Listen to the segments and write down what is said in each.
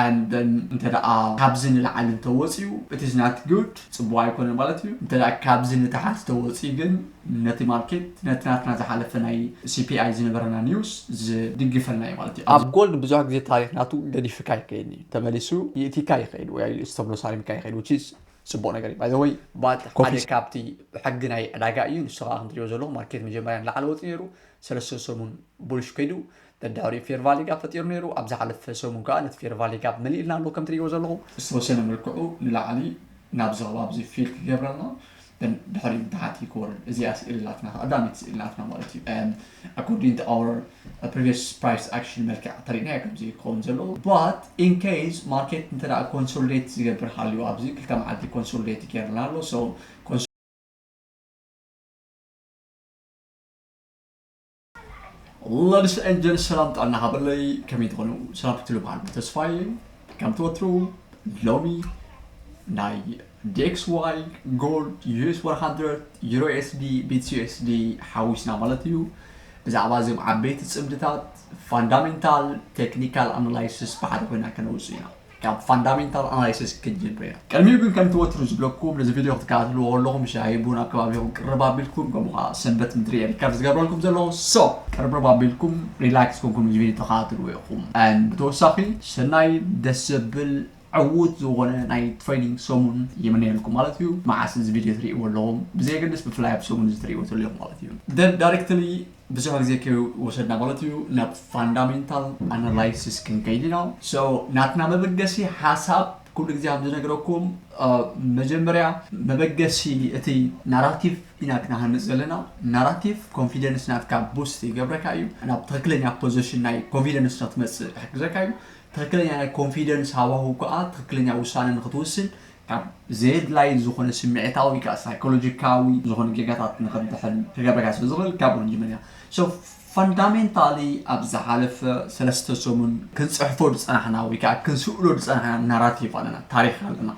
and then እንተደኣ ካብዚ ንላዕሊ እንተወጽዩ it is not good ጽቡቅ ኣይኮነን ማለት እዩ እንተደኣ ካብዚ ንታሕት ተወጽዩ ግን ነቲ ማርኬት ነቲ ናትና ዝሓለፈ ናይ CPI ዝነበረና news ዝድግፈልና እዩ ማለት እዩ ኣብ ጎልድ ብዙሕ ግዜ ታሪክ ናቱ ገዲፍካ ይከይድ እዩ ተመሊሱ ይእቲካ ይከይድ ወይ ኣይልኡስ ተብሎ ሳሪምካ ይከይድ which is ጽቡቅ ነገር እዩ by the way but ሓደ ካብቲ ሕጊ ናይ ዕዳጋ እዩ ንሱ ከኣ ክንትሪኦ ዘለኹ ማርኬት መጀመርያ ንላዕሊ ወጽዩ ነይሩ ሰለስተ ሰሙን ቡልሽ ከይዱ በዳሪ ፌርቫሊጋ ፈጢሩ ነይሩ ኣብ ዝሓለፈ ሰሙን ከኣ ነቲ ፌርቫሊጋ መሊእልና ኣሎ ከም ትርእይዎ ዘለኹም። ዝተወሰነ መልክዑ ንላዕሊ ናብዚ ከባቢዚ ፊል ክገብረልና ድሕሪኡ ንታሕቲ ክወርድ እዚኣ ስእሊ ናትና ቀዳመይቲ ስእሊ ናትና ማለት እዩ ኣኮርዲንግ ቱ ኣወር ፕሪቪየስ ፕራይስ ኣክሽን መልክዕ ተሪእናዮ ከምዚ እዩ ክኸውን ዘለዎ ባት ኢን ኬዝ ማርኬት እንተ ኮንሶሊዴት ዝገብር ሃልዩ ኣብዚ ክልተ መዓልቲ ኮንሶሊዴት ገይርልና ኣሎ ሶ ለዲስ ኤንድ ጀንስ ሰላም ጥዕና ሃበለይ ከመይ ትኾኑ ሰላም ክትሉ በዓል ተስፋዬ ከምቲ ወትሩ ሎሚ ናይ ዲኤክስ ዋይ ጎልድ ዩኤስ 100 ዩሮ ኤስዲ ቢትስ ዩኤስዲ ሓዊስና ማለት እዩ ብዛዕባ እዞም ዓበይቲ ፅምድታት ፋንዳሜንታል ቴክኒካል ኣናላይሲስ ብሓደ ኮይና ከነውፅእ ኢና ካብ ፋንዳሜንታል ኣናሊሲስ ክጅምር ኢና። ቅድሚኡ ግን ከምቲ ወትሩ ዝብለኩም ነዚ ቪድዮ ክትከታተልዎ ከለኹም ሻሂ ቡን ኣብ ከባቢኹም ቅርብ ኣቢልኩም ከምኡ ከኣ ሰንበት ምድሪ እየ ሪከርድ ዝገብረልኩም ዘለኹ so ቅርብርብ ኣቢልኩም ሪላክስ ኮንኩም እዚ ቪድዮ ተከታተልዎ ኢኹም and ብተወሳኺ ሰናይ ደስ ዘብል ዕዉት ዝኾነ ናይ ትሬዲንግ ሰሙን ይምነየልኩም ማለት እዩ። መዓስ እዚ ቪድዮ ትርእይዎ ኣለኹም ብዘየገድስ ብፍላይ ኣብ ሰሙን እዚ ትርእይዎ ተለኹም ማለት እዩ then directly ብዙሕ ግዜ ከይወሰድና ማለት እዩ ናብ ፋንዳሜንታል ኣናላይሲስ ክንከይድ ኢና so ናትና መበገሲ ሓሳብ ኩሉ ግዜ ከም ዝነግረኩም መጀመርያ መበገሲ እቲ ናራቲቭ ኢና ክንሃንፅ ዘለና ናራቲቭ ኮንፊደንስ ናትካ ቡስት ይገብረካ እዩ ናብ ትክክለኛ ፖዘሽን ናይ ኮንፊደንስ ንክትመፅእ ክሕግዘካ እዩ ትክክለኛ ናይ ኮንፊደንስ ሃዋህው ከዓ ትክክለኛ ውሳነ ንክትውስን ካብ ዘየድላይ ዝኾነ ስምዒታዊ ወይ ከኣ ሳይኮሎጂካዊ ዝኾነ ጌጋታት ንኽትድሕን ክገብረካ ስለ ዝኽእል ካብኡ ንጅምር ኢና so fundamentally ኣብ ዝሓለፈ ሰለስተ ሰሙን ክንጽሕፎ ዝጸናሕና ወይ ከኣ ክንስእሎ ዝጸናሕና ናራቲቭ ኣለና ታሪኽ ኣለና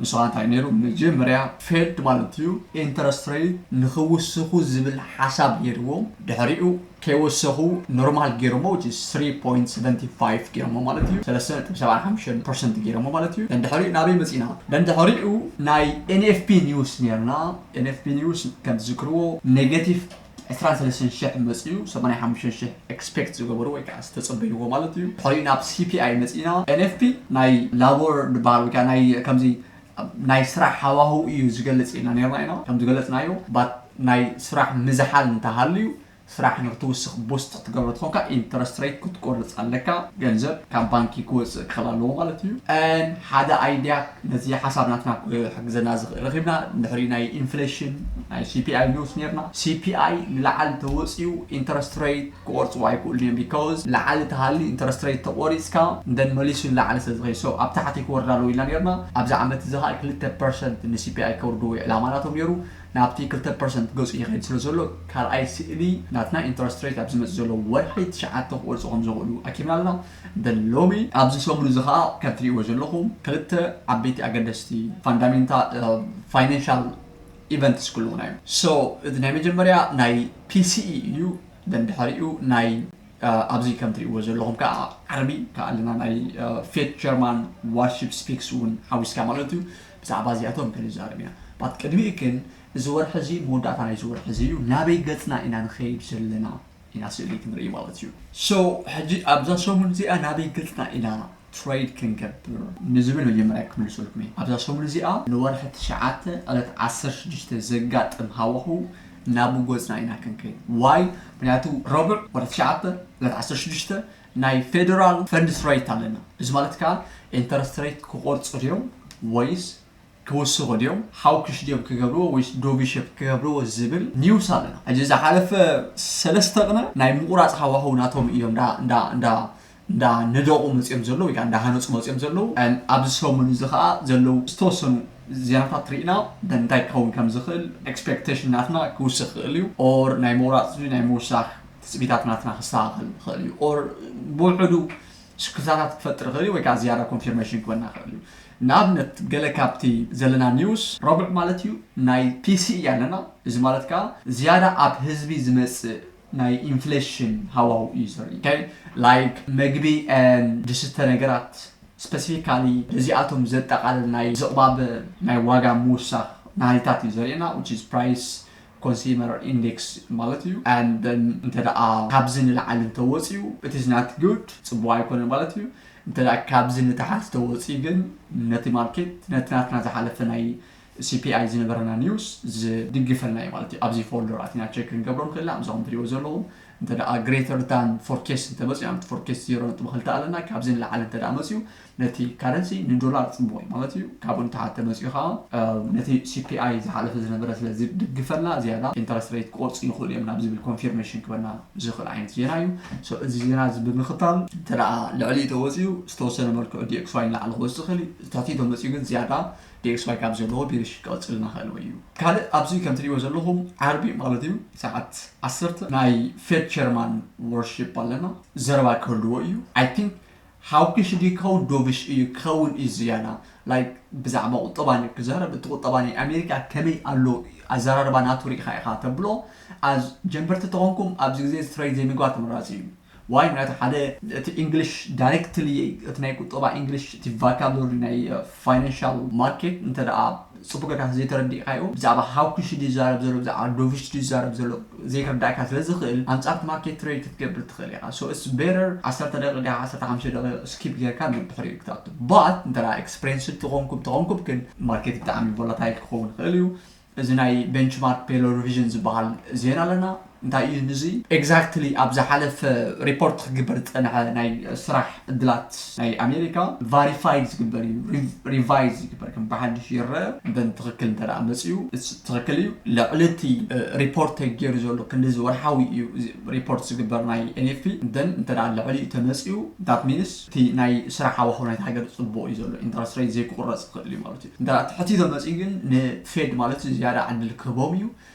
ንሱ ከኣ እንታይ ነይሩ መጀመርያ ፌድ ማለት እዩ ኢንተረስት ሬት ንኽውስኹ ዝብል ሓሳብ ነይርዎም ድሕሪኡ ከይወሰኹ ኖርማል ጌሮሞ which is three point seventy five ጌሮሞ ማለት እዩ ሰለስተ ነጥቢ ሰብዓን ሓምሸን ፐርሰንት ጌሮሞ ማለት እዩ ደንድሕሪኡ ናበይ መጺና ደንድሕሪኡ ናይ NFP news ኔርና NFP news ከም ትዝክርዎ ኔገቲቭ ዕስራን ሰለስተን ሽሕ መጺኡ ሰማንያ ሓሙሽተ ሽሕ ኤክስፔክት ዝገበሩ ወይ ከዓ ዝተጸበይዎ ማለት እዩ ድሕሪኡ ናብ CPI መጺና NFP ናይ ላቦር ድበሃል ወይ ከዓ ናይ ከምዚ ናይ ስራሕ ሃዋህው እዩ ዝገልፅ ኢልና ነይርና ኢና። ከም ዝገለፅናዮ ባት ናይ ስራሕ ምዝሓል እንተሃልዩ ስራሕ ንክትውስኽ ቡስት ክትገብሮ ተኾንካ ኢንተረስት ረይት ክትቆርፅ ኣለካ ገንዘብ ካብ ባንኪ ክወፅእ ክኽእል ኣለዎ ማለት እዩ። and ሓደ ኣይዲያ ነዚ ሓሳብ ናትና ክሕግዘና ዝኽእል ረኺብና ድሕሪ ናይ ኢንፍሌሽን ናይ ሲፒኣይ ንውስ ነይርና ሲፒኣይ ንላዕሊ እንተወፂኡ ኢንተረስት ረይት ክቆርጽዎ ኣይክእሉን እዮም because ላዕሊ ተሃልዩ interest rate ተቆሪጽካ then መሊሱ ንላዕሊ ስለ ዝኸይድ so ኣብ ታሕቲ ክወርድ ኣለዎ ኢልና ኔርና ኣብዚ ዓመት እዚ ከኣ ክልተ percent ን CPI ከውርድዎ እዩ ዕላማ ናቶም ኔሩ ናብቲ ክልተ percent ገጹ ይኸይድ ስለ ዘሎ ካልኣይ ስእሊ ናትና interest rate ኣብ ዝመጽእ ዘሎ ወርሒ ትሽዓተ ክቆርጹ ከም ዝኽእሉ ኣኪብና ኣለና then ሎሚ ኣብዚ ሰሙን እዚ ከኣ ከም ትርእይዎ ዘለኹም ክልተ ዓበይቲ ኣገደስቲ fundamental financial ኢቨንትስ ክልዉና እዮም so እዚ ናይ መጀመርያ ናይ ፒሲኢ እዩ then ድሕሪኡ ናይ ኣብዚ ከም ትሪእዎ ዘለኹም ከዓ ዓርቢ ከዓ ኣለና ናይ ፌት ጀርማን ዋርሺፕ ስፒክስ እውን ሓዊስካ ማለት እዩ ብዛዕባ እዚኣቶም ክንዛረብ ኢና ባት ቅድሚኡ ግን እዚ ወርሒ እዚ መወዳእታ ናይዚ ወርሒ እዚ እዩ ናበይ ገፅና ኢና ንኸይድ ዘለና ኢና ስእሊ ክንርኢ ማለት እዩ so ሕጂ ኣብዛ ሰሙን እዚኣ ናበይ ገጽና ኢና ትረይድ ክንገብር ንዝብል መጀመርያ ክምልሰልኩም እየ ኣብዛ ሰሙን እዚኣ ንወርሒ ትሽዓተ ዕለት ዓሰርተ ሽዱሽተ ዘጋጥም ሃዋህው ናብ ጎጽና ኢና ክንከይድ why ምክንያቱ ረቡዕ ወርሒ ትሽዓተ ዕለት ዓሰርተ ሽዱሽተ ናይ ፌደራል ፈንድስ ረይት ኣለና እዚ ማለት ከኣ ኢንተረስት ረይት ክቆርጹ ድዮም ወይስ ክውስኹ ድዮም ሓውክሽ ድዮም ክገብርዎ ወይስ ዶቪ ሸፕ ክገብርዎ ዝብል ኒውስ ኣለና ሕጂ ዝሓለፈ ሰለስተ ቅነ ናይ ምቁራጽ ሃዋህው ናቶም ኢዮም እንዳ እንዳ እንዳ እንዳ ነደቑ መጽዮም ዘለዉ ወይከኣ እንዳ ሃነጹ መጽዮም ዘለዉ ኣብዚ ሰሙን እዚ ከኣ ዘለዉ ዝተወሰኑ ዜናታት ሪኢና እንታይ ክኸውን ከም ዝኽእል ኤክስፔክተሽን ናትና ክውስኽ ይኽእል ኢዩ ኦር ናይ ምቁራጽ ናይ ምውሳኽ ትጽቢታት ናትና ክስተኻኸል ይኽእል ኢዩ ኦር ብውሑዱ ስክፍታታት ክፈጥር ይኽእል እዩ ወይ ከኣ ዝያዳ ኮንፊርመሽን ክበና ይኽእል እዩ ንኣብነት ገለ ካብቲ ዘለና ኒውስ ረቡዕ ማለት እዩ ናይ ፒሲ እያ ኣለና እዚ ማለት ከኣ ዝያዳ ኣብ ህዝቢ ዝመጽእ ናይ ኢንፍለሽን ሃዋሁ እዩ ዘርኢ ላይክ መግቢ and ድስተ ነገራት ስፐሲፊካሊ ነዚኣቶም ዘጠቓልል ናይ ዝቕባበ ናይ ዋጋ ምውሳኽ ናህሪታት እዩ ዘርእየና which is price ኮንሲመር ኢንዴክስ ማለት እዩ and then እንተ ካብዚ ንላዕሊ እንተ ወጽዩ it is not good ጽቡቅ ኣይኮነን ማለት እዩ እንተ ካብዚ ንታሕቲ ተወጽዩ ግን ነቲ ማርኬት ነቲ ናትና ዝሓለፈ ናይ CPI ዝነበረና ኒውስ ዝድግፈልና እዩ ማለት እዩ ኣብዚ ፎልደር ኣቲና ቸክ ክንገብሮ ንኽእል ኢና ኣብዛ ከም ትሪእዎ ዘለኹም እንተ ግሬተር ዳን ፎርኬስት እንተመፅኡ ኣብቲ ፎርኬስት ዜሮ ነጥቢ ክልተ ኣለና ካብዚ ንላዕሊ እንተ መፅኡ ነቲ ካረንሲ ንዶላር ጽቡቕ እዩ ማለት እዩ ካብኡ ንታሕቲ ተመጺኡ ከኣ ነቲ ሲፒኣይ ዝሓለፈ ዝነበረ ስለ ዝድግፈና ዝያዳ ኢንተረስት ሬት ክቖርጹ ይኽእሉ እዮም ናብ ዝብል ኮንፊርሜሽን ክበና ዝኽእል ዓይነት ዜና እዩ ሶ እዚ ዜና እዚ ብምኽታል እንተ ልዕሊ እዩ ተወጺኡ ዝተወሰነ መልክዑ ዲኤክስዋይ ንላዕሊ ክወጽእ ይኽእል እዩ ዝተሕቲ ተመጺኡ ግን ዝያዳ ዲኤክስዋይ ካብ ዘለዎ ቢሪሽ ክቕጽል እናኽእል ወይ እዩ ካልእ ኣብዚ ከም ትርእይዎ ዘለኹም ዓርቢ ማለት እዩ ሰዓት ዓሰርተ ናይ ፌድ ቸርማን ወርሺፕ ኣለና ዘረባ ክህልዎ እዩ ኣይ ቲንክ ሓውክሽ ድዩ ክኸውን ዶብሽ እዩ ክኸውን እዩ ዝያዳ like ብዛዕባ ቁጠባ እንድዩ ክዛረብ እቲ ቁጠባ ናይ ኣሜሪካ ከመይ ኣሎ ኣዛራርባ ናቱ ሪኢኻ ኢኻ ተብሎ as ጀምበርቲ ተኾንኩም ኣብዚ ግዜ straight ዘይምግባር ተመራጺ እዩ why ምክንያቱ ሓደ እቲ English directly እቲ ናይ ቁጠባ English እቲ vocabulary ናይ financial market እንተ ጽቡቅ ጌርካ እንተ ዘይተረዲእካዮ ብዛዕባ ሃው ኩሽ ድዩ ዝዛረብ ዘሎ ብዛዕባ ዶቭሽ ድዩ ዝዛረብ ዘሎ ዘይክርዳኣካ ስለ ዝክእል ኣንጻር ማርኬት ትሬድ ክትገብር ትክእል ኢካ so it's better ዓሰርተ ደቂቅ ድካ ዓሰርተ ሓሙሽተ ደቂቅ skip ጌርካ ንድሕሪኡ ክትኣቱ but እንተ experienced ተኮንኩም ተኮንኩም ግን ማርኬት ብጣዕሚ volatile ክከውን ይክእል እዩ እዚ ናይ benchmark payload revision ዝብሃል ዜና ኣለና። እንታይ እዩ ንዚ ኤግዛክትሊ ኣብ ዝሓለፈ ሪፖርት ክግበር ዝጸንሐ ናይ ስራሕ ዕድላት ናይ ኣሜሪካ ቫሪፋይድ ዝግበር እዩ ሪቫይዝ ዝግበር ከም ብሓድሽ ይረኣ እንተ ትኽክል እንተ መጽዩ ትኽክል እዩ ልዕሊ እቲ ሪፖርት ተገይሩ ዘሎ ክንድዚ ወርሓዊ እዩ ሪፖርት ዝግበር ናይ NFP እንተ እንተ ልዕሊኡ ተመጽዩ ዳት ሚንስ እቲ ናይ ስራሕ ሃዋህው ናይቲ ሃገር ጽቡቕ እዩ ዘሎ ኢንተረስት ሬት ዘይክቑረጽ ይኽእል እዩ ማለት እዩ እንተ ትሕቲኡ ተመጽዩ ግን ንፌድ ማለት እዩ ዝያዳ ዕድል ክህቦም እዩ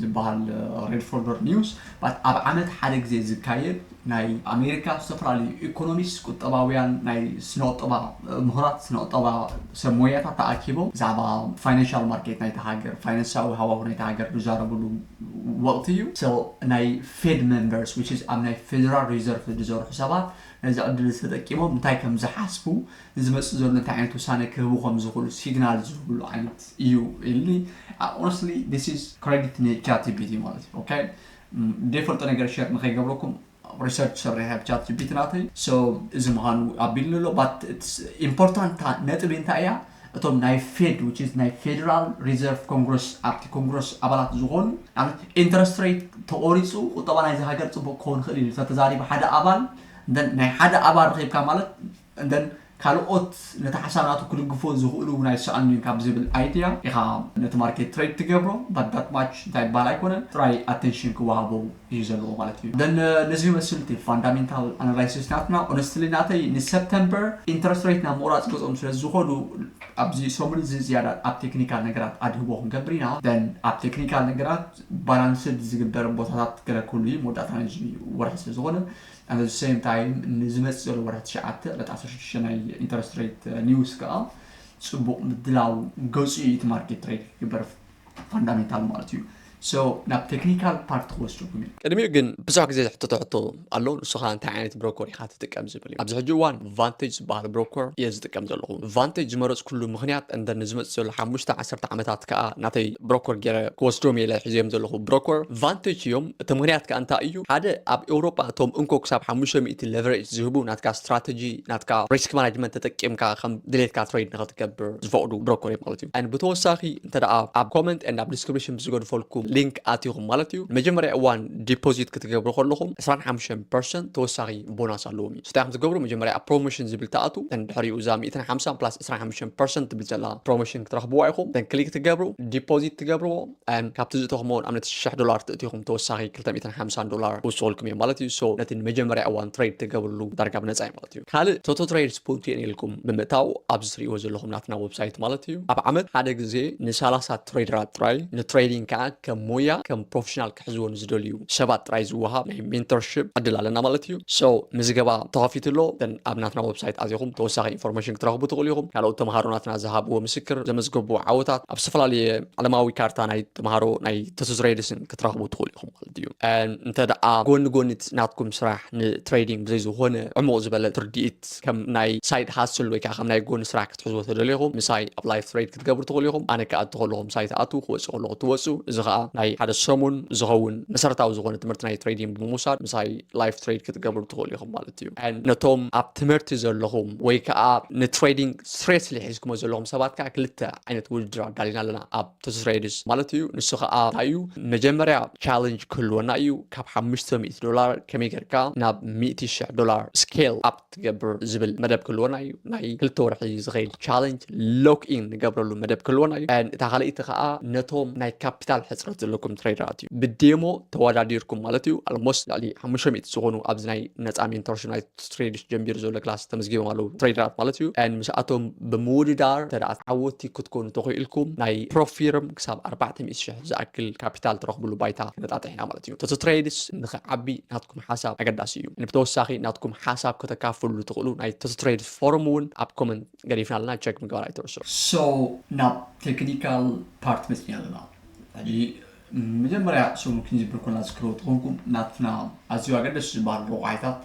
ዝበሃል ሬድ ፎልደር ኒውስ ኣብ ዓመት ሓደ ግዜ ዝካየድ ናይ ኣሜሪካ ዝተፈላለዩ ኢኮኖሚስት ቁጠባውያን ናይ ስነቁጠባ ምሁራት ስነቁጠባ ሰብ ሞያታት ተኣኪቦም ብዛዕባ ፋይናንሻል ማርኬት ናይታ ሃገር ፋይናንሳዊ ሃዋሁ ናይታ ሃገር ዝዛረብሉ ወቕቲ እዩ so ናይ ፌድ መንበርስ which is ኣብ ናይ ፌደራል ሪዘርቭ ዝሰርሑ ሰባት ነዚ ዕድል እዚ ተጠቂሞም እንታይ ከም ዝሓስቡ ንዝመጽእ ዘሎ እንታይ ዓይነት ውሳነ ክህቡ ከም ዝኽእሉ ሲግናል ዝህብሉ ዓይነት እዩ ኢሉኒ ኦነስትሊ ዲስ ኢዝ ክሬዲት ንቻት ጂፒቲ ማለት እዩ ኦኬ ዘይፈልጦ ነገር ሸር ንከይገብረኩም ሪሰርች ሰሪሐ ቻት ጂፒቲ ናተይ ሶ እዚ ምዃኑ ኣቢልኒ ኣሎ ባት ኢምፖርታንት ነጥቢ እንታይ እያ እቶም ናይ ፌድ ዊች ኢዝ ናይ ፌደራል ሪዘርቭ ኮንግረስ ኣብቲ ኮንግረስ ኣባላት ዝኾኑ ንኣብነት ኢንተረስት ሬት ተቖሪፁ ቁጠባ ናይዚ ሃገር ፅቡቅ ክኸውን ይኽእል እዩ ተተዛሪቡ ሓደ ኣባል ናይ ሓደ ኣባል ረኺብካ ማለት እተን ካልኦት ነቲ ሓሳብ ናቱ ክድግፎ ዝኽእሉ ናይ ሰኣን ድዩ ካብ ዝብል ኣይድያ ኢኻ ነቲ ማርኬት ትሬድ ትገብሮ but that much እንታይ ይበሃል ኣይኮነን ጥራይ ኣተንሽን ክወሃቦ እዩ ዘለዎ ማለት እዩ then ነዚ ይመስል እቲ ፋንዳሜንታል ኣናላይሲስ ናትና ሆነስትሊ ናተይ ንሰፕተምበር ኢንተረስት ሬት ናብ ምቑራፅ ገፆም ስለ ዝኾዱ ኣብዚ ሰሙን እዚ ዝያዳ ኣብ ቴክኒካል ነገራት ኣድህቦ ክንገብር ኢና then ኣብ ቴክኒካል ነገራት ባላንስድ ዝግበር ቦታታት ገለ ክህሉ እዩ መወዳእታ ናይዚ ወርሒ ስለ ዝኾነ At the same time ንዝመጽእ ዘሎ ወርሒ ትሽዓተ ዕለት ዓሰርተ ሽዱሽተ ናይ ኢንተረስት ሬት ኒውስ ከኣ ጽቡቕ ምድላው ገጹ እዩ እቲ ማርኬት ትሬድ ክግበር ፋንዳሜንታል ማለት እዩ so ናብ ቴክኒካል ፓርት ክወስደኩም እዩ። ቅድሚኡ ግን ብዙሕ ግዜ ዝሕተቶ ሕቶ ኣሎ ንሱ ከኣ እንታይ ዓይነት ብሮኮር ኢኻ ትጥቀም ዝብል እዩ ኣብዚ ሕጂ እዋን ቫንተጅ ዝበሃል ብሮኮር እየ ዝጥቀም ዘለኹ። ቫንተጅ ዝመረፅኩሉ ምኽንያት እምበር ንዝመፅእ ዘሎ ሓሙሽተ ዓሰርተ ዓመታት ከዓ ናተይ ብሮኮር ገይረ ክወስዶም እየ ኢለ ሒዘዮም ዘለኹ ብሮኮር ቫንተጅ እዮም። እቲ ምኽንያት ከዓ እንታይ እዩ? ሓደ ኣብ ኤውሮጳ እቶም እንኮ ክሳብ ሓሙሽተ ሚእቲ ለቨሬጅ ዝህቡ ናትካ ስትራተጂ ናትካ ሪስክ ማናጅመንት ተጠቂምካ ከም ድሌትካ ትሬድ ንኸትገብር ዝፈቕዱ ብሮኮር እዮም ማለት እዩ። and ብተወሳኺ እንተደኣ ኣብ ኮመንት and ኣብ ዲስክሪፕሽን ብዝገድፈልኩም ሊንክ ኣቲኹም ማለት እዩ ንመጀመርያ እዋን ዲፖዚት ክትገብሩ ከለኹም ዕስራን ሓሙሽተን ፐርሰንት ተወሳኺ ቦናስ ኣለዎም እዩ። ስታይ ከም ዝገብሩ መጀመርያ ኣብ ፕሮሞሽን ዝብል ትኣትዉ then ድሕሪኡ እዛ ሚእትን ሓምሳን plus ዕስራን ሓሙሽተን percent ትብል ዘላ ፕሮሞሽን ክትረኽብዋ ኢኹም then ክሊክ ትገብሩ ዲፖዚት ትገብርዎ and ካብቲ ዝእተኹምዎ ንኣብነት ሽሕ ዶላር ትእቲኹም ተወሳኺ ክልተ ሚእትን ሓምሳን ዶላር ክውስኹልኩም እዮም ማለት እዩ so ነቲ ንመጀመርያ እዋን ትሬድ ትገብርሉ ዳርጋ ብነጻ እዩ ማለት እዩ ካልእ ቶቶ ትሬድ ስፖንት የን ኢልኩም ብምእታው ኣብዚ ትርእይዎ ዘለኹም ናትና ወብሳይት ማለት እዩ ኣብ ዓመት ሓደ ግዜ ንሳላሳ ትሬደራት ጥራይ ንትሬዲንግ ከኣ ከም ሞያ ከም ፕሮፌሽናል ክሕዝዎ ንዝደልዩ ሰባት ጥራይ ዝወሃብ ናይ ሜንቶርሺፕ ዕድል ኣለና ማለት እዩ። So ምዝገባ ተኸፊቱ ኣሎ። እተን ኣብ ናትና ወብሳይት ኣቲኹም ተወሳኺ ኢንፎርሜሽን ክትረኽቡ ትኽእሉ ኢኹም። ካልኦት ተምሃሮ ናትና ዝሃብዎ ምስክር፣ ዘመዝገቡ ዓወታት፣ ኣብ ዝተፈላለየ ዓለማዊ ካርታ ናይ ተምሃሮ ናይ ተትዝረይድስን ክትረኽቡ ትኽእሉ ኢኹም ማለት እዩ። And እንተደኣ ጎኒ ጎኒ እቲ ናትኩም ስራሕ ንትሬዲንግ ብዘይ ዝኾነ ዕሙቕ ዝበለ ትርዲኢት ከም ናይ ሳይድ ሃስል ወይ ከኣ ከም ናይ ጎኒ ስራሕ ክትሕዝዎ ተደሊኹም ምሳይ ኣብ ላይፍ ትሬድ ክትገብሩ ትኽእሉ ኢኹም ኣነ ክኣቱ ከለኹ ምሳይ ትኣትዉ ክወጽእ ከለኹ ትወጹ እዚ ከዓ ናይ ሓደ ሰሙን ዝኸውን መሰረታዊ ዝኾነ ትምህርቲ ናይ ትሬዲንግ ብምውሳድ ምሳይ ላይፍ ትሬድ ክትገብሩ ትኽእሉ ኢኹም ማለት እዩ ነቶም ኣብ ትምህርቲ ዘለኹም ወይ ከዓ ንትሬዲንግ ስሬስሊ ሒዝኩሞ ዘለኹም ሰባት ከዓ ክልተ ዓይነት ውድድር ኣዳሊና ኣለና ኣብ ትስሬድስ ማለት እዩ ንሱ ከዓ እንታይ እዩ መጀመርያ ቻለንጅ ክህልወና እዩ ካብ ሓሙሽተ ሚእቲ ዶላር ከመይ ጌርካ ናብ ሚእቲ ሽሕ ዶላር ስኬል ኣብ ትገብር ዝብል መደብ ክህልወና እዩ ናይ ክልተ ወርሒ ዝኸይድ ቻለንጅ ሎክ ኢን ንገብረሉ መደብ ክህልወና እዩ እታ ካልኣይቲ ከዓ ነቶም ናይ ካፒታል ሕፅረት ዘለኩም ትሬደራት እዩ ብዴሞ ተወዳዲርኩም ማለት እዩ ኣልሞስ ልዕሊ ሓሙሽተ ሚእቲ ዝኾኑ ኣብዚ ናይ ነፃ ሜንቶርሽፕ ናይ ትሬድሽ ጀንቢሩ ዘሎ ክላስ ተመዝጊቦም ኣለዉ ትሬደራት ማለት እዩ ን ምስኣቶም ብምውድዳር ተደኣ ዓወቲ ክትኮኑ ተኽኢልኩም ናይ ፕሮፊርም ክሳብ ኣርባዕተ ሚእቲ ሽሕ ዝኣክል ካፒታል ትረኽብሉ ባይታ ክነጣጥሕ ኢና ማለት እዩ ተቶ ትሬድስ ንኽዓቢ ናትኩም ሓሳብ ኣገዳሲ እዩ ንብተወሳኺ ናትኩም ሓሳብ ከተካፍሉሉ ትኽእሉ ናይ ተስትሬድ ፎርም እውን ኣብ ኮመንት ገዲፍና ኣለና ቸክ ምግባር ኣይትርስዑ። So ናብ ተክኒካል ፓርት መጺና ኣለና ሕጂ ንመጀመርያ ሰሙን ክንጅብር ኮለና ዝክርዎ ተኾንኩም ናትና ኣዝዩ ኣገደስቲ ዝባሃሉ ረቋሒታት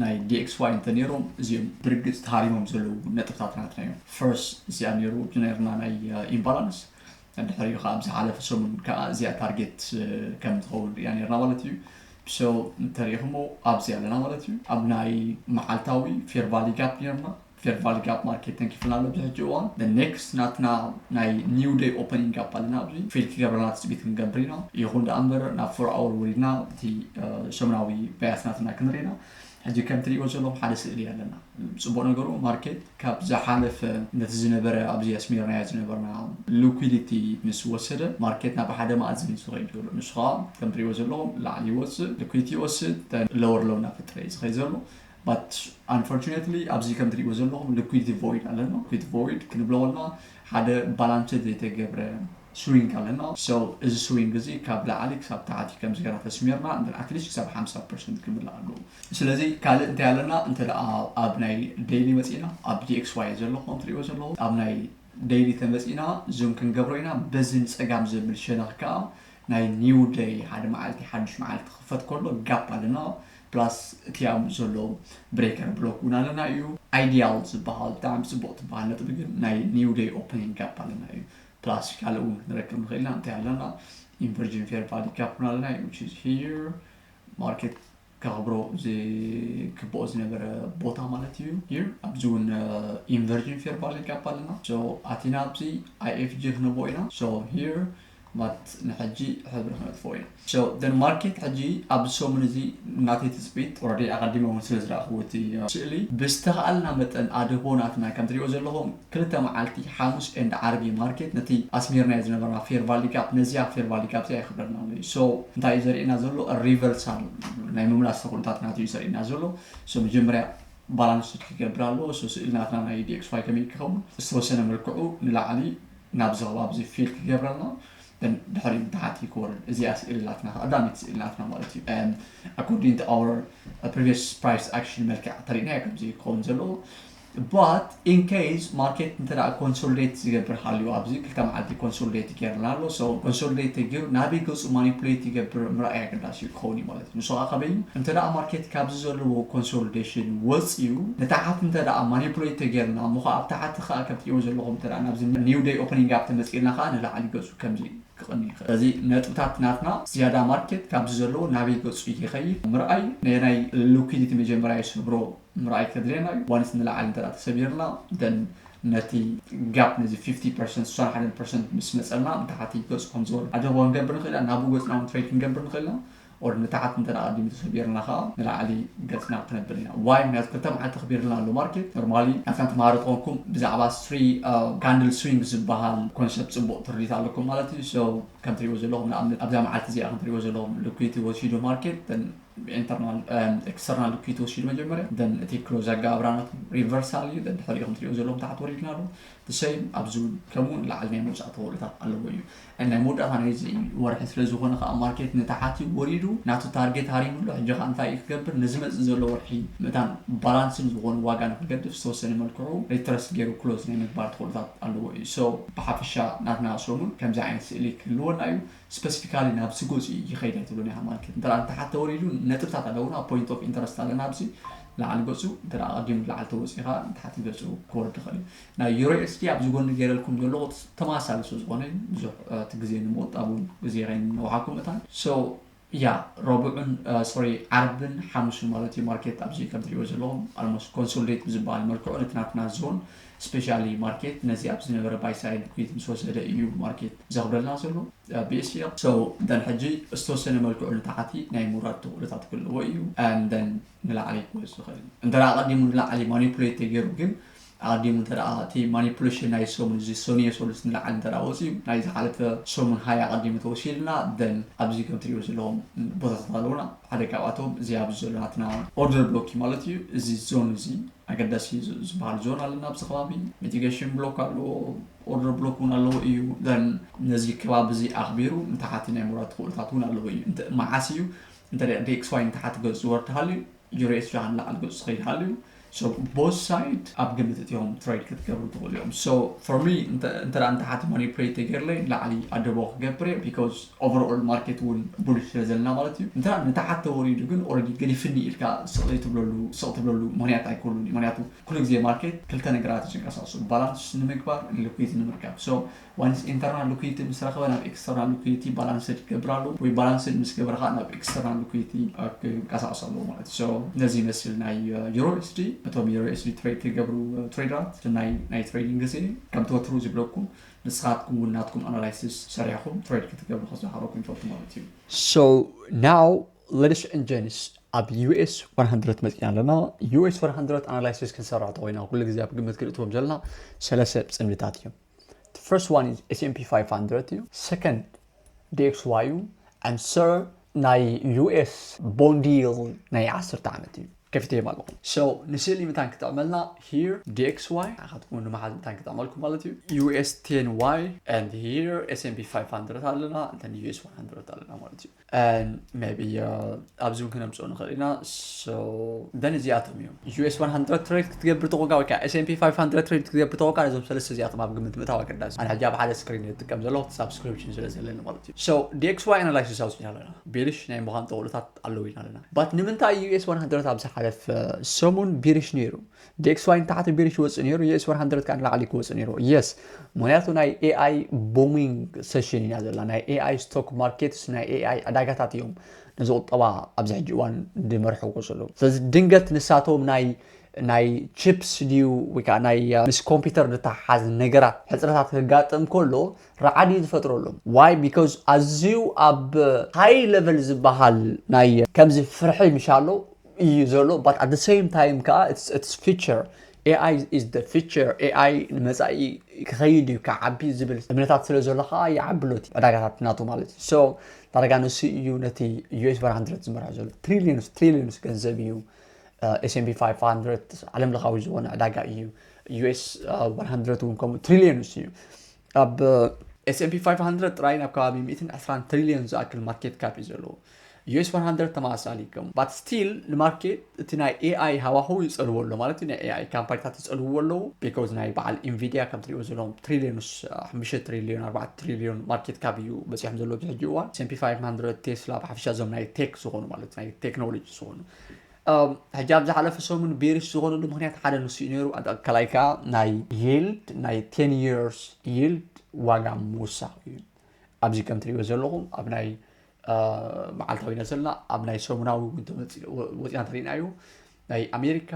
ናይ dxy እንተ ኔሮም እዚኦም ብርግጽ ተሃሪሞም ዘለዉ ነጥብታት ናትና እዮም First እዚኣ ኔሩ ዝነርና ናይ ኢምባላንስ ድሕሪኡ ከኣ ኣብ ዝሓለፈ ሰሙን ከኣ እዚኣ ታርጌት ከም ትኸውን ሪኢና ኔርና ማለት እዩ። So እንተሪኢኽሞ ኣብዚ ኣለና ማለት እዩ። ኣብ ናይ መዓልታዊ ፌር ቫሊ ጋፕ ኔርና። ፌር ቫሊ ጋፕ ማርኬት ተንኪፍልና ኣሎ ኣብዚ ሕጂ እዋን። The next ናትና ናይ new day opening ጋፕ ኣለና ኣብዚ። ፊል ክገብረልና ትጽቢት ክንገብር ኢና። ይኹን ደኣ እምበር ናብ ፎር ኣወር ወሪድና እቲ ሰሙናዊ ባያት ናትና ክንርኢ ኢና። ሕጂ ከም ትሪእዎ ዘለኹም ሓደ ስእሊ ኣለና። ጽቡቕ ነገሩ ማርኬት ካብ ዝሓለፈ ነቲ ዝነበረ ኣብዚ ኣስሚርናዮ ዝነበርና ሉኲዲቲ ምስ ወሰደ ማርኬት ናብ ሓደ መኣዝን እዩ ዝኸይድ ዘሎ። ንሱ ከኣ ከም ትሪእዎ ዘለኹም ላዕሊ ይወጽእ ሉኲዲቲ ይወስድ then lower low እናፈጠረ እዩ ዝኸይድ ዘሎ but unfortunately ኣብዚ ከም ትሪእዎ ዘለኹም ሉኲዲቲ void ኣለና። ሉኲዲቲ void ክንብሎ ከለና ሓደ ባላንስድ ዘይተገብረ ስዊንግ ኣለና so እዚ ስዊንግ እዚ ካብ ላዕሊ ክሳብ ታሕቲ ከምዚ ጌርና ተስሚርና then at least ክሳብ ሓምሳ percent ክምላእ ኣለዎ ስለዚ ካልእ እንታይ ኣለና እንተ ደኣ ኣብ ናይ daily መጺእና ኣብ dxy እዩ ዘሎ ከም ትርእይዎ ዘለኹም ኣብ ናይ daily ተመጺእና zoom ክንገብሮ ኢና በዚ ንጸጋም ዘብል ሸነኽ ከኣ ናይ new day ሓደ መዓልቲ ሓዱሽ መዓልቲ ክኽፈት ከሎ ጋፕ ኣለና ፕላስ እቲ ኣብኡ ዘሎ ብሬከር ብሎክ እውን ኣለና እዩ ኣይዲያል ዝበሃል ብጣዕሚ ፅቡቕ ትበሃል ነጥቢ ግን ናይ ኒው ደይ ኦፕኒንግ ጋፕ ኣለና እዩ ፕላስቲካል እውን ክንረክብ ንኽእል ኢና እንታይ ኣለና ኢንቨርጂን ፌር ፓሊካ ኩን ኣለና which is here ማርኬት ከኽብሮ ዝግብኦ ዝነበረ ቦታ ማለት እዩ ሂር ኣብዚ እውን ኢንቨርጂን ፌር ቫሊ ጋፕ ኣለና ሶ ኣቲና ኣብዚ ኣይኤፍጂ ክነብኦ ኢና ሶ ሂር ማለት ንሕጂ ሕብሪ ክነጥፍኦ ኢና So the market ሕጂ ኣብዚ ሰሙን እዚ ናተይ ትጽቢት already ኣቐዲመ ውን ስለ ዝረኣኽዎ እቲ ስእሊ ብዝተኻኣልና መጠን ኣድህቦ ናትና ከም ትሪእዎ ዘለኹም ክልተ መዓልቲ ሓሙስ and ዓርቢ እዩ ማርኬት ነቲ ኣስሚርናዮ ዝነበርና fair value gap ነዚኣ fair value gap እዚኣ የኽብረልና ኣሎ እዩ so እንታይ እዩ ዘርእየና ዘሎ a reversal ናይ ምምላስ ኩነታት ናቱ እዩ ዘርእየና ዘሎ so መጀመርያ balance sheet ክገብር ኣለዎ so ስእሊ ናትና ናይ dxy ከመይ ክኸውን ዝተወሰነ መልክዑ ንላዕሊ ናብዚ ከባቢ እዚ fill ክገብረልና ግን ድሕሪ ንታሕቲ ክወርድ እዚኣ ስእሊ ናትና ቀዳመይቲ ስእሊ ናትና ማለት እዩ ኣኮርዲንግ ቱ ኣወር ፕሪቪየስ ፕራይስ ኣክሽን መልክዕ ተሪእናዮ ከምዚ እዩ ክኸውን ዘለዎ ባት ኢን ኬዝ ማርኬት እንተ ኮንሶሊዴት ዝገብር ሃልዩ ኣብዚ ክልተ መዓልቲ ኮንሶሊዴት ይገርና ኣሎ ሶ ኮንሶሊዴት ተጊሩ ናበይ ገፁ ማኒፕሌት ይገብር ምርኣይ ኣገዳሲ እዩ ክኸውን እዩ ማለት ንሱ ኸኣ ከመይ እዩ? እንተደኣ ማርኬት ካብዚ ዘለዎ ኮንሶልዴሽን ወጺኡ ንታሕት እንተደኣ ማኒፑሌት ተጌርና እሞ ኸኣ ኣብ ታሕቲ ኸኣ ከም ትርእይዎ ዘለኹም እንተደኣ ናብዚ ኒው ደይ ኦፕኒንግ ኣብ ተመጺእና ኸኣ ንላዕሊ ገጹ ከምዚ ክቕኒ ይኽእል። ስለዚ ነጥብታት ናትና ዝያዳ ማርኬት ካብዚ ዘለዎ ናበይ ገጹ ይኸይድ ምርኣይ ነየናይ ሉኪዲቲ መጀመርያ ይሰብሮ፣ ምርኣይ ከድልየና እዩ ዋንስ ንላዕሊ እንተ ተሰቢርና then ነቲ ጋፕ ነዚ ፊፍቲ ፐርሰንት ስሳን ሓደን ፐርሰንት ምስ መጸና ንታሕቲ ገጹ ከም ዝወርድ ኣድህቦ ክንገብር ንኽእል ኢና ናብኡ ገጽና ውን ትሬድ ክንገብር ንኽእል ኢና or ንታሕቲ እንተ ቀዲሙ ተሰቢርና ከኣ ንላዕሊ ገጽና ክነብል ኢና why ምክንያቱ ክልተ መዓልቲ ተኽቢርልና ኣሎ ማርኬት ኖርማሊ ናትና ተማሃሮ ተኾንኩም ብዛዕባ ስሪ ካንድል ስዊንግ ዝበሃል ኮንሰፕት ጽቡቕ ትርዲት ኣለኩም ማለት እዩ so ከም ትሪእዎ ዘለኹም ንኣብነት ኣብዛ መዓልቲ እዚኣ ከም ትሪእዎ ዘለኹም ሊኩዲቲ ወሲዱ ማርኬት internal and external ኪት ወሲዱ መጀመርያ ደን እቲ ክሎዝ ኣገባብራ ናቱ ሪቨርሳል እዩ ደድሕሪኡ ከም ትሪኦ ዘለዎም ታሕቲ ወሪድና ኣሎ ብሰይም ኣብዚ እውን ከምኡ ንላዕሊ ናይ ምውፃእ ተኽእሎታት ኣለዎ እዩ ናይ መወዳእታ ናይዚ ወርሒ ስለ ዝኾነ ከዓ ማርኬት ንታሓቲ ወሪዱ ናቱ ታርጌት ሃሪሙ ኣሎ ሕጂ ከዓ እንታይ እዩ ክገብር ንዝመፅእ ዘሎ ወርሒ መታን ባላንስን ዝኾነ ዋጋ ንክገድፍ ዝተወሰነ መልክዑ ሪትረስ ገይሩ ክሎዝ ናይ ምግባር ተኽእሎታት ኣለዎ እዩ ሶ ብሓፈሻ ናትና ሰሙን ከምዚ ዓይነት ስእሊ ክህልወና እዩ ስፐሲፊካሊ ናብ ስጉዚ ይኸይድ ኣይትብሉን ኢኻ ማለት እዩ እንተ እንተሓተ ውን ኢሉ ነጥብታት ኣለዉና ፖይንት ኦፍ ኢንተረስት ኣለና ኣብዚ ላዕሊ ገጹ እንተ ኣቐዲሙ ላዕሊ ተወጺኻ ንታሕቲ ገጹ ክወርድ ይኽእል እዩ ናይ ዩሮ ኤስዲ ኣብዚ ጎኒ ገይረልኩም ዘለኹ ተመሳሳሊ ስለ ዝኾነ እዩ ብዙሕ እቲ ግዜ ንምቑጣብ ውን ግዜ ከይነውሓኩም እታን ሶ ያ ረቡዕን ሶሪ ዓርብን ሓሙስን ማለት እዩ ማርኬት ኣብዚ ከም ትሪእዎ ዘለኹም ኣልሞስት ኮንሶሊዴት ብዝበሃል መልክዑ ነቲ ናትና ዞን ስፔሻሊ ማርኬት ነዚ ኣብዚ ዝነበረ ባይ ሳይድ ኩዊት ምስ ወሰደ ኢዩ ማርኬት ዘክብረልና ዘሎ ብእስየቅ so then ሕጂ ዝተወሰነ መልክዑ ንታሕቲ ናይ ምውራድ ተክእሎታት ክህልዎ ኢዩ and then ንላዕሊ ክወጽእ ይክእል ኢዩ እንተ ኣቀዲሙ ንላዕሊ ማኒፑሌት ተገይሩ ግን ኣቀዲሙ እንተ እቲ ማኒፑሌሽን ናይ ሰሙን እዚ ሰኑየ ሰሉስ ንላዕሊ እንተ ወጽዩ ናይ ዝሓለፈ ሰሙን ሃይ ኣቀዲሙ ተወሲድና then ኣብዚ ከም ትሪእዎ ዘለኹም ቦታታት ኣለውና ሓደ ካብኣቶም እዚ ኣብዚ ዘሎ ናትና ኦርደር ብሎክ ኢዩ ማለት ኢዩ እዚ ዞን እዚ ኣገዳሲ ዝባሃል ዞን ኣለና ኣብዚ ከባቢ ሚቲገሽን ብሎክ ኣለዎ ኦርደር ብሎክ ውን ኣለዎ እዩ ዘን ነዚ ከባቢ እዚ ኣኽቢሩ ንታሓቲ ናይ ምውራድ ተኽእሎታት ውን ኣለዎ እዩ እንተ መዓስ እዩ እንተ ዲኤክስዋይ ንታሓቲ ገፁ ዝወርድ ሃልዩ ዩሬኤስ ጃሃ ንላዕሊ ገፁ ዝኸይድ ሃልዩ ሶ ቦዝ ሳይድ ኣብ ግምት እትዮም ትሬድ ክትገብሩ ትኽእሉ እዮም ሶ ፎር ሚ እንተ ንታሓቲ ማኒፕሌት ተገይርለይ ንላዕሊ ኣደቦ ክገብር እየ ቢኮዝ ኦቨር ኦል ማርኬት እውን ቡሊሽ ስለ ዘለና ማለት እዩ እንተ ንታሓተ ወሪዱ ግን ኦረዲ ገዲፍኒ ኢልካ ስቅ ዘይትብለሉ ስቅ ትብለሉ ምክንያት ኣይኮሉን እዩ ምክንያቱ ኩሉ ግዜ ማርኬት ክልተ ነገራት እዩ ዝንቀሳቅሱ ባላንስ ንምግባር ን ሉኪት ንምርካብ ሶ ዋንስ ኢንተርናል ሉኪቲ ምስ ረከበ ናብ ኤክስተርናል ሉኪቲ ባላንስድ ክገብር ኣለዎ ወይ ባላንስድ ምስ ገበረ ካኣ ናብ ኤክስተርናል ሉኪቲ ክንቀሳቅስ ኣለዎ ማለት እዩ ሶ ነዚ ይመስል ናይ ዩሮ ኤስዲ ነቶም ዩሮ ኤስዲ ትሬድ ትገብሩ ትሬደራት ናይ ናይ ትሬዲንግ ግዜ ከምቲ ወትሩ ዝብለኩም ንስኻትኩም ውን ናትኩም ኣናላይስስ ሰሪሕኹም ትሬድ ክትገብሩ ከዘኻኽረኩም ይፈቱ ማለት እዩ። So now ladies and gents ኣብ US one hundred መጺና ኣለና US one hundred ኣናላይስስ ክንሰርሕ ተኾይና ኩሉ ግዜ ኣብ ግምት ክንእትዎም ዘለና ሰለሰ ጽምድታት እዮም። The first one is S&P 500 እዩ። Second ዲኤክስዋዩ ኣንድ ሰር ናይ ዩኤስ ቦንዲል ናይ ዓሰርተ ዓመት እዩ ከፊተዮም ኣለኹ ሶ ንስእሊ ምታን ክጥዕመልና ሂር ዲኤክስዋይ ንዓኻትኩም ንመሓዝ ምታን ክጥዕመልኩም ማለት እዩ ዩኤስ ቴን ዋይ ኣንድ ሂር ኤስኤምፒ ፋይቭ ሃንድረድ ኣለና እንተ ዩኤስ ዋን ሃንድረድ ኣለና ማለት እዩ ን ሜቢ ኣብዚ ውን ክነምጽኦ ንኽእል ኢና so then እዚኣቶም እዮም US one hundred trade ክትገብር ተኾንካ ወይ ከኣ SNP five hundred trade ክትገብር ተኾንካ ነዞም ሰለስተ እዚኣቶም ኣብ ግምት ምእታው ኣገዳሲ እዩ ኣነ ሕጂ ኣብ ሓደ ስክሪን እየ ዝጥቀም ዘለኹ እቲ ሳብስክሪፕሽን ስለ ዘለኒ ማለት እዩ so DXY analysis ኣውጺእና ኣለና ቤሪሽ ናይ ምዃን ጠቕሎታት ኣለዉ ኢና ኣለና but ንምንታይ US one hundred ኣብ ዝሓለፈ ሰሙን ቤሪሽ ነይሩ DXY ንታሕቲ ቤሪሽ ይወጽእ ነይሩ US one hundred ከኣ ንላዕሊ ክወጽእ ነይሩ yes ምክንያቱ ናይ AI booming session ኢና ዘላ ናይ AI stock markets ናይ AI ዕዳጋታት እዮም ነዚ ቁጠባ ኣብዚ ሕጂ እዋን ድመርሕዎ ዘሎ ስለዚ ድንገት ንሳቶም ናይ ናይ ቺፕስ ድዩ ወይ ከዓ ናይ ምስ ኮምፒውተር ድተሓሓዝ ነገራት ሕፅረታት ከጋጥም ከሎ ረዓድ እዩ ዝፈጥረሎም ዋይ ቢካዝ ኣዝዩ ኣብ ሃይ ለቨል ዝበሃል ናይ ከምዚ ፍርሒ ምሻሎ እዩ ዘሎ ባት ኣት ሰም ታይም ከዓ ኢትስ ፊቸር ኤኣይ ኢዝ ዘ ፊቸር፣ ኤኣይ ንመጻኢ ክኸይድ እዩ ክዓቢ ዝብል እምነታት ስለ ዘሎ ከኣ ይዓቢ ኣሎ እቲ ዕዳጋታት ናቱ ማለት እዩ። ሶ ዳርጋ ንሱ እዩ ነቲ ዩኤስ ዋን ሃንድረድ ዝመርሖ ዘሎ ትሪልዮንስ ትሪልዮንስ ገንዘብ እዩ ኤስኤምቢ ፋይቭ ሃንድረድ ዓለም ለኻዊ ዝኾነ ዕዳጋ እዩ ዩኤስ ዋን ሃንድረድ እውን ከምኡ ትሪልዮንስ እዩ ኣብ ኤስኤምቢ ፋይቭ ሃንድረድ ጥራይ ናብ ከባቢ ሚእትን ዕስራን ትሪልዮን ዝኣክል ማርኬት ካፕ እዩ ዘለዎ ዩኤስ ዋን ሃንድረድ ተመሳሳሊ ከም ባት ስቲል ንማርኬት እቲ ናይ ኤኣይ ሃዋህው ይጸልዎ ኣሎ ማለት እዩ ናይ ኤኣይ ካምፓኒታት ይጸልውዎ ኣለዉ ቢኮዝ ናይ በዓል ኢንቪድያ ከም ትሪእዎ ዘለዎም ትሪልዮንስ ሓሙሽተ ትሪልዮን ኣርባዕተ ትሪልዮን ማርኬት ካብ እዩ በጺሖም ዘለዎ ኣብዚ ሕጂ እዋን ኤስፒ 500 ቴስላ ብሓፈሻ እዞም ናይ ቴክ ዝኾኑ ማለት ናይ ቴክኖሎጂ ዝኾኑ ሕጂ ኣብ ዝሓለፈ ሰሙን ቤሪሽ ዝኾነሉ ምክንያት ሓደ ንሱ እዩ ነይሩ ካልኣይ ከዓ ናይ ይልድ ናይ ቴን የርስ ይልድ ዋጋ ምውሳኽ እዩ ኣብዚ ከም ትሪእዎ ዘለኹም ኣብ ናይ መዓልታዊ ኢና ዘለና ኣብ ናይ ሰሙናዊ እውን ተመፂኡ ወፂና እንተሪእና እዩ ናይ ኣሜሪካ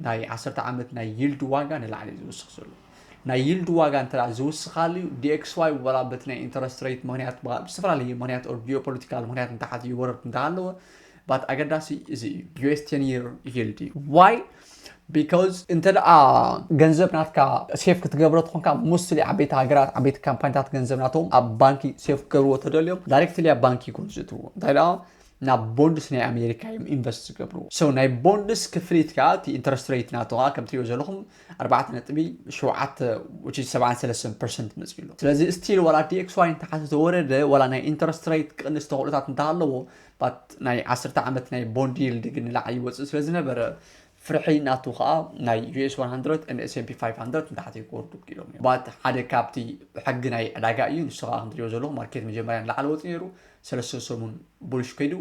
ናይ ዓሰርተ ዓመት ናይ ይልድ ዋጋ ንላዕሊ እዩ ዝውስኽ ዘሎ ናይ ይልድ ዋጋ እንተ ዝውስኻሉ እዩ ዲኤክስዋይ ወላ በቲ ናይ ኢንተረስት ሬት ምክንያት ብዝተፈላለየ ምክንያት ኦር ጂኦፖለቲካል ምክንያት እንተሓት ይወረድ እንተሃለወ ባት ኣገዳሲ እዚ እዩ ዩስ ቴን ይር ይልዲ ዋይ ቢካዝ እንተ ደኣ ገንዘብ ናትካ ሴፍ ክትገብሮ ትኾንካ ሞስትሊ ዓበይቲ ሃገራት ዓበይቲ ካምፓኒታት ገንዘብ ናቶም ኣብ ባንኪ ሴፍ ክገብርዎ ተደልዮም ዳይሬክትሊ ኣብ ባንኪ ይኮኑ ዝእትዎ እንታይ ደኣ ናብ ቦንድስ ናይ ኣሜሪካ እዮም ኢንቨስት ዝገብርዎ ሰው ናይ ቦንድስ ክፍሊት ከዓ እቲ ኢንተረስት ሬት ናቶ ከዓ ከም ትሪኦ ዘለኹም ኣርባዕተ ነጥቢ ሸውዓተ ውጪ ሰብዓን ሰለስተን ፐርሰንት መፅኡ ኣሎ ስለዚ ስቲል ዋላ ዲኤክስዋይ እንተሓተ ተወረደ ዋላ ናይ ኢንተረስት ሬት ክቕንስ ተኽእሎታት እንተሃለዎ ባት ናይ ዓስርተ ዓመት ናይ ቦንድ ይልድ ግን ንላዕሊ ይወፅእ ስለ ዝነበረ ፍርሒ ናቱ ከዓ ናይ ዩኤስ 100 ን ኤስኤምፒ 500 ንታሕቲ ክወርዱ ክኢሎም እዮም ባት ሓደ ካብቲ ሕጊ ናይ ዕዳጋ እዩ ንሱ ከዓ ከምትሪኦ ዘለኹ ማርኬት መጀመርያ ንላዕሊ ወፂ ነይሩ ሰለስተ ሰሙን ቡልሽ ከይዱ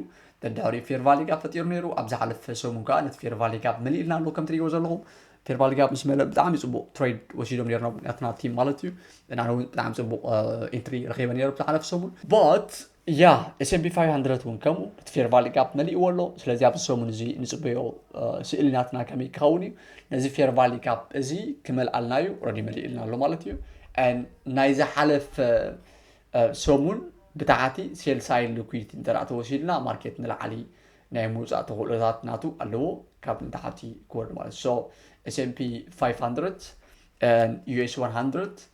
ደድሕሪኡ ፌር ቫሊ ጋብ ፈጢሩ ነይሩ ኣብ ዝሓለፈ ሰሙን ከዓ ነቲ ፌር ቫሊ ጋብ መሊእልና ኣሎ ከም ትሪእዎ ዘለኹም ፌር ቫሊ ጋብ ምስ መለእ ብጣዕሚ ፅቡቅ ትሬድ ወሲዶም ነይርና ናትና ቲም ማለት እዩ እና እውን ብጣዕሚ ፅቡቅ ኢንትሪ ረኪበ ነይሩ ብዝሓለፈ ሰሙን ባት ያ ኤስኤምቢ ፋይቭ ሃንድረድ እውን ከምኡ እቲ ፌርቫሊ ጋፕ መሊእዎ ኣሎ ስለዚ ኣብዚ ሰሙን እዚ ንፅበዮ ስእሊ ናትና ከመይ ክኸውን እዩ ነዚ ፌርቫሊ ጋፕ እዚ ክመልኣልና እዩ ረዲ መሊእልና ኣሎ ማለት እዩ ናይ ዝሓለፈ ሰሙን ብታሕቲ ሴልሳይ ልኩዊት እንተ ተወሲድና ማርኬት ንላዕሊ ናይ ምውፃእ ተኽእሎታት ናቱ ኣለዎ ካብ ንታሕቲ ክወርድ ማለት ሶ ኤስኤምፒ 500 ዩኤስ 100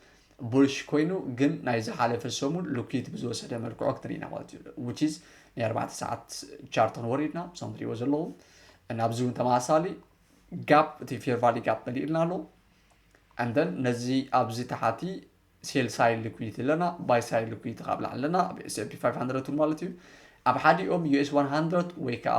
ቡልሽ ኮይኑ ግን ናይ ዝሓለፈ ሰሙን ልኩይት ብዝወሰደ መልክዖ ክትሪኢና ማለት እዩ which is ናይ ኣርባዕተ ሰዓት ቻርት ክንወርድ ኢና እዞም ትሪእዎ ዘለኹም እና ኣብዚ እውን ተመሳሳሊ ጋፕ እቲ ፌር ቫሊ ጋፕ መሊእልና ኣሎ and then ነዚ ኣብዚ ተሓቲ ሴል ሳይል ልኩይት ኣለና ባይ ሳይል ልኩይት ካብ ላዕሊ ኣለና ኣብ ኤስኤፒ 500 ማለት እዩ ኣብ ሓዲኦም ዩኤስ 100 ወይ ከዓ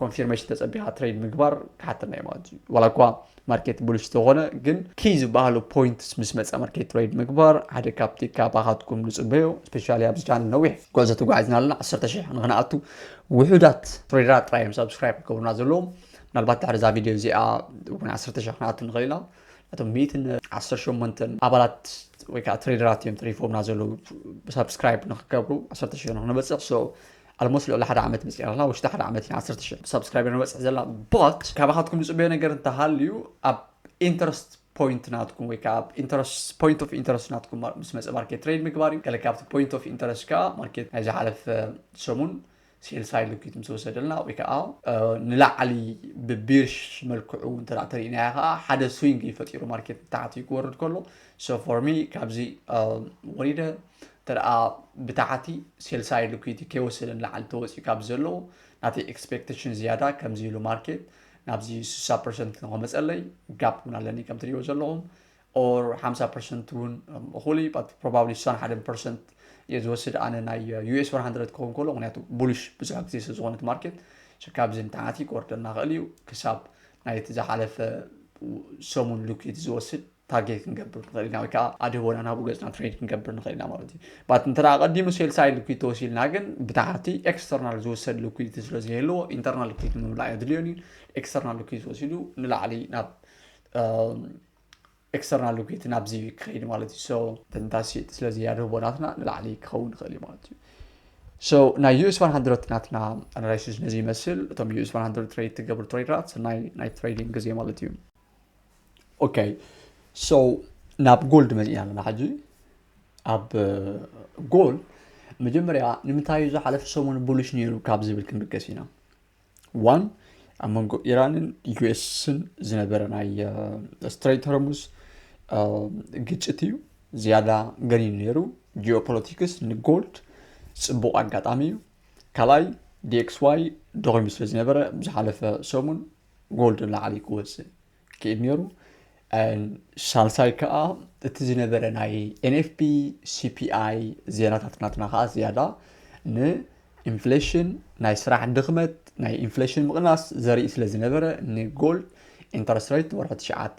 ኮንፊርሜሽን ተፀቢኻ ትሬድ ምግባር ክሓተና እዩ ማለት እዩ ዋላ እኳ ማርኬት ብሉሽ ተኾነ ግን ኪይ ዝበሃሉ ፖይንትስ ምስ መፀ ማርኬት ትሬድ ምግባር ሓደ ካብቲ ካባኻትኩም ንፅበዮ ስፔሻሊ ኣብዚ ቻነል ነዊሕ ጉዕዞ ተጓዒዝና ኣለና ዓሰርተ ሽሕ ንክንኣቱ ውሑዳት ትሬደራት ጥራይ እዮም ሳብስክራይብ ክገብሩና ዘለዎም ምናልባት ድሕሪ እዛ ቪድዮ እዚኣ እውን ዓሰርተ ሽሕ ክንኣቱ ንኽእል ኢና እቶም ሚእትን ዓሰርተ ሸሞንተን ኣባላት ወይ ከዓ ትሬደራት እዮም ተሪፎምና ዘለዉ ሳብስክራይብ ንክገብሩ ዓሰርተ ሽሕ ንክንበፅሕ ሶ ኣልሞስት ልዕሊ ሓደ ዓመት መፂኣና ውሽጢ ሓደ ዓመት ኢና ዓሰርተ ሽሕ ሳብስክራይበር ንበፅሕ ዘለና ባት ካባኻትኩም ዝፅበዮ ነገር እንተሃልዩ ኣብ ኢንተረስት ፖይንት ናትኩም ወይ ከዓ ኣብ ኢንተረስት ፖይንት ኦፍ ኢንተረስት ናትኩም ማ- ምስ መፀ ማርኬት ትሬድ ምግባር እዩ ገለ ካብቲ ፖይንት ኦፍ ኢንተረስት ከዓ ማርኬት ናይ ዝሓለፈ ሰሙን ሴልስ ሃይ ልኪት ምስ ወሰደልና ወይ ከዓ እ፣ ንላዕሊ ብቢርሽ መልክዑ እንተ ተሪእናዮ ከዓ ሓደ ስዊንግ እዩ ፈጢሩ ማርኬት ንታሕቲ ክወርድ ከሎ ሶ ፎር ሚ ካብዚ እ፣ ወሪደ ተደኣ ብታሕቲ ሴልሳይድ ሊኩዲቲ ከይወሰደ ንላዕሊ ተወጺኡ ካብ ብዘለዎ ናተይ ኤክስፔክተሽን ዝያዳ ከምዚ ኢሉ ማርኬት ናብዚ ስሳ ፐርሰንት ንኸመጸለይ ጋፕ እውን ኣለኒ ከም ትሪእዎ ዘለኹም ኦር ሓምሳ ፐርሰንት እውን እኹል እዩ ባት ፕሮባብሊ ስሳን ሓደን ፐርሰንት እየ ዝወስድ ኣነ ናይ ዩኤስ ዋን ሃንድረድ ክኸውን ከሎ ምክንያቱ ቡሊሽ ብዙሕ ግዜ ስለ ዝኾነት ማርኬት ካብዚ ንታሕቲ ክወርደና ኽእል እዩ ክሳብ ናይቲ ዝሓለፈ ሰሙን ሊኩዲቲ ዝወስድ ታርጌት ክንገብር ንኽእል ኢና ወይ ከዓ ኣድህቦና ናብኡ ገፅና ትሬድ ክንገብር ንኽእል ኢና ማለት እዩ ባት እንተ ቀዲሙ ሴል ሳይድ ልኩድ ተወሲልና ግን ብታሕቲ ኤክስተርናል ዝወሰድ ልኩዲቲ ስለ ዘየለዎ ኢንተርናል ልኩዲቲ ምምላእ የድልዮን እዩ ኤክስተርናል ልኩዲቲ ወሲዱ ንላዕሊ ናብ ኤክስተርናል ልኩዲቲ ናብዚ ክኸይድ ማለት እዩ ሶ ተንታሲ ስለዚ ያድህቦ ናትና ንላዕሊ ክኸውን ይኽእል እዩ ማለት እዩ ሶ ናይ ዩኤስ 100 ናትና ኣናላይሲስ ነዚ ይመስል እቶም ዩኤስ 100 ትሬድ ትገብሩ ትሬድራት ናይ ናይ ትሬዲንግ ግዜ ማለት እዩ ኦኬ ሶ ናብ ጎል ድመፅእና ኣለና ሕጂ ኣብ ጎል መጀመርያ ንምንታይ እዩ ዝሓለፈ ሰሙን ብሉሽ ነይሩ ካብ ዝብል ክንብገስ ኢና ዋን ኣብ መንጎ ኢራንን ዩኤስን ዝነበረ ናይ ስትሬት ሆርሙዝ ግጭት እዩ ዝያዳ ገኒኑ ነይሩ ጂኦፖለቲክስ ንጎልድ ፅቡቕ ኣጋጣሚ እዩ ካልኣይ ዲኤክስዋይ ደኺሙ ስለ ዝነበረ ብዝሓለፈ ሰሙን ጎል ንላዕሊ ክወፅእ ክእል ነይሩ ሳልሳይ ከዓ እቲ ዝነበረ ናይ ኤንኤፍፒ ሲፒኣይ ዜናታት ናትና ከዓ ዝያዳ ንኢንፍሌሽን ናይ ስራሕ ድኽመት ናይ ኢንፍሌሽን ምቕናስ ዘርኢ ስለ ዝነበረ ንጎልድ ኢንተረስት ሬት ወርሒ ትሽዓተ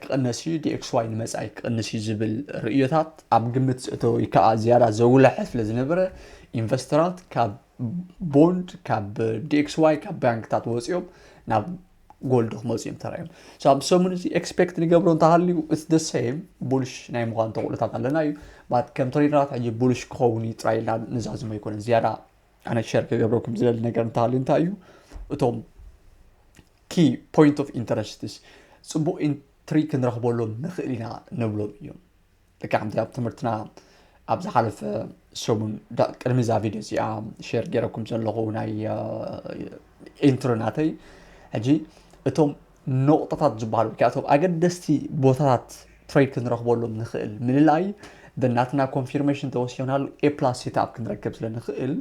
ክቕነስ እዩ ዲኤክስዋይ ንመፃኢ ክቕንስ እዩ ዝብል ርእዮታት ኣብ ግምት ዝእተወ ከዓ ዝያዳ ዘጉልሐ ስለ ዝነበረ ኢንቨስተራት ካብ ቦንድ ካብ ዲክስዋይ ካብ ባንክታት ወፂኦም ናብ ጎልድ ክመፁ እዮም ተራእዮም ኣብ ሰሙን እዚ ኤክስፔክት ንገብሮ እንተሃልዩ እስ ደ ሰም ቡልሽ ናይ ምዃን ተኽእሎታት ኣለና እዩ ባት ከም ትሬድራት ሕጂ ቡልሽ ክኸውን እዩ ጥራይ ኢልና ንዛዝሞ ኣይኮነን ዝያዳ ኣነ ሸር ክገብረኩም ዝደሊ ነገር እንተሃልዩ እንታይ እዩ እቶም ኪ ፖይንት ኦፍ ኢንተረስትስ ፅቡቅ ኢንትሪ ክንረኽበሎም ንኽእል ኢና ንብሎም እዮም ደቂ ሓንቲ ኣብ ትምህርትና ኣብ ዝሓለፈ ሰሙን ቅድሚ እዛ ቪድዮ እዚኣ ሸር ገይረኩም ዘለኹ ናይ ኢንትሮ ናተይ ሕጂ እቶም ነቑጣታት ዝበሃሉ ወይ እቶም ኣገደስቲ ቦታታት ትሬድ ክንረኽበሎም ንኽእል ምልላይ ብናትና ኮንፊርሜሽን ተወሲናሉ ኤ ፕላስ ሴትኣፕ ክንረክብ ስለ ንኽእል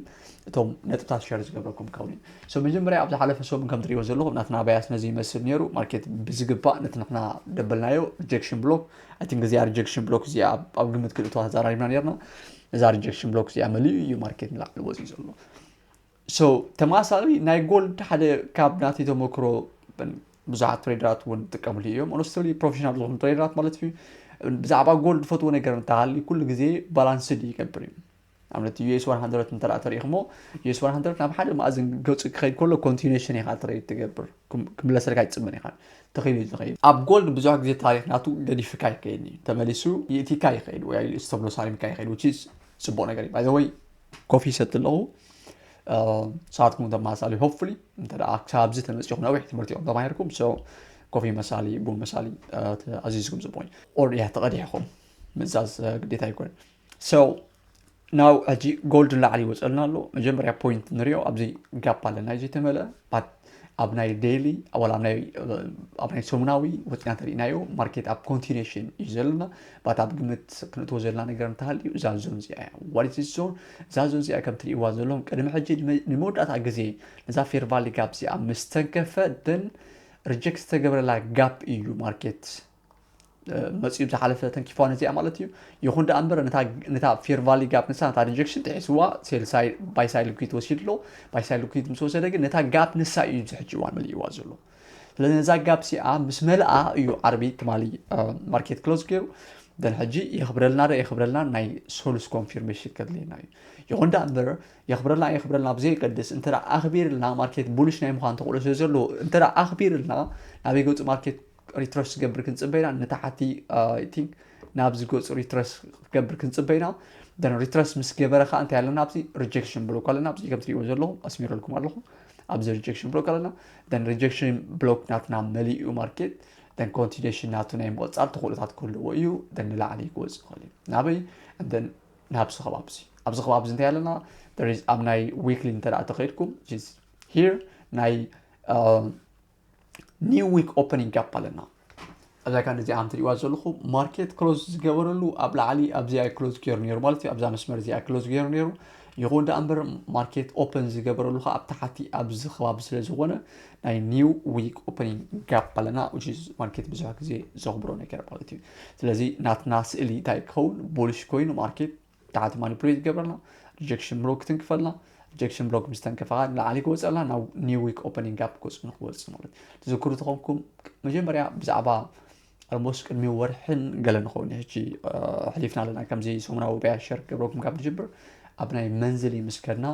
እቶም ነጥብታት ሸር ዝገብረኩም ከውን እዩ ሶ መጀመርያ ኣብ ዝሓለፈ ሰሙን ከም ትሪእዎ ዘለኹም ናትና ባያስ ነዚ ይመስል ነይሩ ማርኬት ብዝግባእ ነቲ ንሕና ደበልናዮ ሪጀክሽን ብሎክ ኣይ ቲንክ እዚኣ ሪጀክሽን ብሎክ እዚኣ ኣብ ግምት ክልእቶ ተዛራሪብና ነርና እዛ ሪጀክሽን ብሎክ እዚኣ መሊኡ እዩ ማርኬት ንላዕሊ ወፅዩ ዘሎ ሶ ተመሳሳሊ ናይ ጎልድ ሓደ ካብ ናተይ ተመክሮ ብዙሓት ትሬደራት እውን ዝጥቀምሉ እዮም ኦነስትሊ ፕሮፌሽናል ዝኾኑ ትሬደራት ማለት እዩ ብዛዕባ ጎልድ ዝፈትዎ ነገር እንተሃሊ ኩሉ ግዜ ባላንስድ ይገብር እዩ ንኣብነት US 100 እንተ ተሪኢኹሞ US 100 ናብ ሓደ መኣዝን ገፁ ክኸይድ ከሎ ኮንቲኔሽን ኢኻ ትረይድ ትገብር ክምለሰልካ ይፅምን ኢኻ ተኸይሉ ዝኸይድ ኣብ ጎልድ ብዙሕ ግዜ ታሪክ ናቱ ገዲፍካ ይከይድ እዩ ተመሊሱ ይእቲካ ይኸይድ ወይ ኣይልእስ ተብሎ ሳሊምካ ይኸይድ ውቺ ፅቡቅ ነገር እዩ ባይዘወይ ኮፊ ይሰቲ ኣለኹ ንስኻትኩም ተመሳሳሊ ሆፕፉሊ እንተ ክሳብዚ ተመፂኹም ነዊሕ ትምህርቲ እዮም ተማሂርኩም ሶ ኮፊ መሳሊ ቡን መሳሊ ኣዚዝኩም ፅቡቅ እዩ ኦር እያ ተቐዲሕኹም ምእዛዝ ግዴታ ኣይኮነን ሰው ናው ሕጂ ጎልድ ንላዕሊ ይወፀልና ኣሎ መጀመርያ ፖይንት ንሪኦ ኣብዚ ጋፕ ኣለና እዩ ዘይተመልአ ኣብ ናይ ዴይሊ ወላ ኣብ ናይ ሰሙናዊ ወፂና ተሪእናዮ ማርኬት ኣብ ኮንቲኔሽን እዩ ዘለና ባት ኣብ ግምት ክንእትዎ ዘለና ነገር እንተሃልዩ እዛ ዞን እዚኣ እያ ዋሪት ዞን እዛ ዞን እዚኣ ከም ትሪእዋ ዘለኹም ቅድሚ ሕጂ ንመወዳእታ ግዜ ነዛ ፌርቫሊ ጋፕ እዚኣ ምስ ተንከፈ ደን ሪጀክት ዝተገብረላ ጋፕ እዩ ማርኬት መጺኡ ብዝሓለፈ ተንኪፋ ነዚኣ ማለት እዩ ይኹን ደኣ እምበር ነታ ፌርቫሊ ጋፕ ንሳ ነታ ሪጀክሽን ጥሒስዋ ሴልሳይ ባይሳይ ልኩት ወሲዱ ኣሎ ባይሳይ ልኩት ምስ ወሰደ ግን ነታ ጋፕ ንሳ እዩ ዝሕጂ እዋን መሊእዋ ዘሎ ስለዚ ነዛ ጋፕ ሲኣ ምስ መልኣ እዩ ዓርቢ ትማሊ ማርኬት ክሎዝ ገይሩ ደን ሕጂ የኽብረልና ዶ የኽብረልና ናይ ሶሉስ ኮንፊርሜሽን ከድልየና እዩ ይኹን ደኣ እምበር የኽብረልና የኽብረልና ብዘየገድስ እንተ ኣኽቢርልና ማርኬት ቡልሽ ናይ ምዃን ተኽእሎ ስለ ዘለዎ እንተ ኣኽቢርልና ናበይ ገፁ ማርኬት ሪትረስ ዝገብር ክንፅበ ኢና ንታሓቲ ቲንክ ናብዚ ገፁ ሪትረስ ክገብር ክንፅበ ኢና ደን ሪትረስ ምስ ገበረ ከዓ እንታይ ኣለና ኣብዚ ሪጀክሽን ብሎክ ኣለና ኣብዚ ከም ትሪእዎ ዘለኹም ኣስሚረልኩም ኣለኹ ኣብዚ ሪጀክሽን ብሎክ ኣለና ደን ሪጀክሽን ብሎክ ናትና መሊኡ ማርኬት ደን ኮንቲኔሽን ናቱ ናይ ምቕፃል ተኽእሎታት ክህልዎ እዩ ደን ንላዕሊ ክወፅእ ይኽእል እዩ ናበይ ደን ናብዚ ከባቢ እዚ ኣብዚ ከባቢ እዚ እንታይ ኣለና ኣብ ናይ ዊክሊ እንተ ተኸይድኩም ሂር ናይ ኒው ዊክ ኦፐኒንግ ጋፕ ኣለና ኣብዛ ካን እዚኣ ከም ትሪእዋ ዘለኹም ማርኬት ክሎዝ ዝገበረሉ ኣብ ላዕሊ ኣብዚኣ ክሎዝ ገይሩ ነይሩ ማለት እዩ ኣብዛ መስመር እዚኣ ክሎዝ ገይሩ ነይሩ ይኹን ደኣ እምበር ማርኬት ኦፐን ዝገበረሉ ከዓ ኣብ ታሓቲ ኣብዚ ከባቢ ስለ ዝኾነ ናይ ኒው ዊክ ኦፐኒንግ ጋፕ ኣለና ማርኬት ብዙሕ ግዜ ዘኽብሮ ነገር ማለት እዩ ስለዚ ናትና ስእሊ እንታይ ክኸውን ቦሊሽ ኮይኑ ማርኬት ታሕቲ ማኒፕሌት ይገብረልና ሪጀክሽን ብሎክ ክትንክፈልና ሪጀክሽን ብሎክ ምስ ተንከፈኻ ንላዕሊ ክወፅኣላ ናብ ኒው ዊክ ኦፐኒንግ ጋፕ ገፁ ንክወፅእ ማለት ትዝክሩ ተኾንኩም መጀመርያ ብዛዕባ ኣልሞስ ቅድሚ ወርሕን ገለ ንኸውን ሕጂ ሕሊፍና ኣለና ከምዚ ሰሙናዊ በያ ሸር ገብረኩም ካብ ንጅብር ኣብ ናይ መንዝሊ ምስ ከድና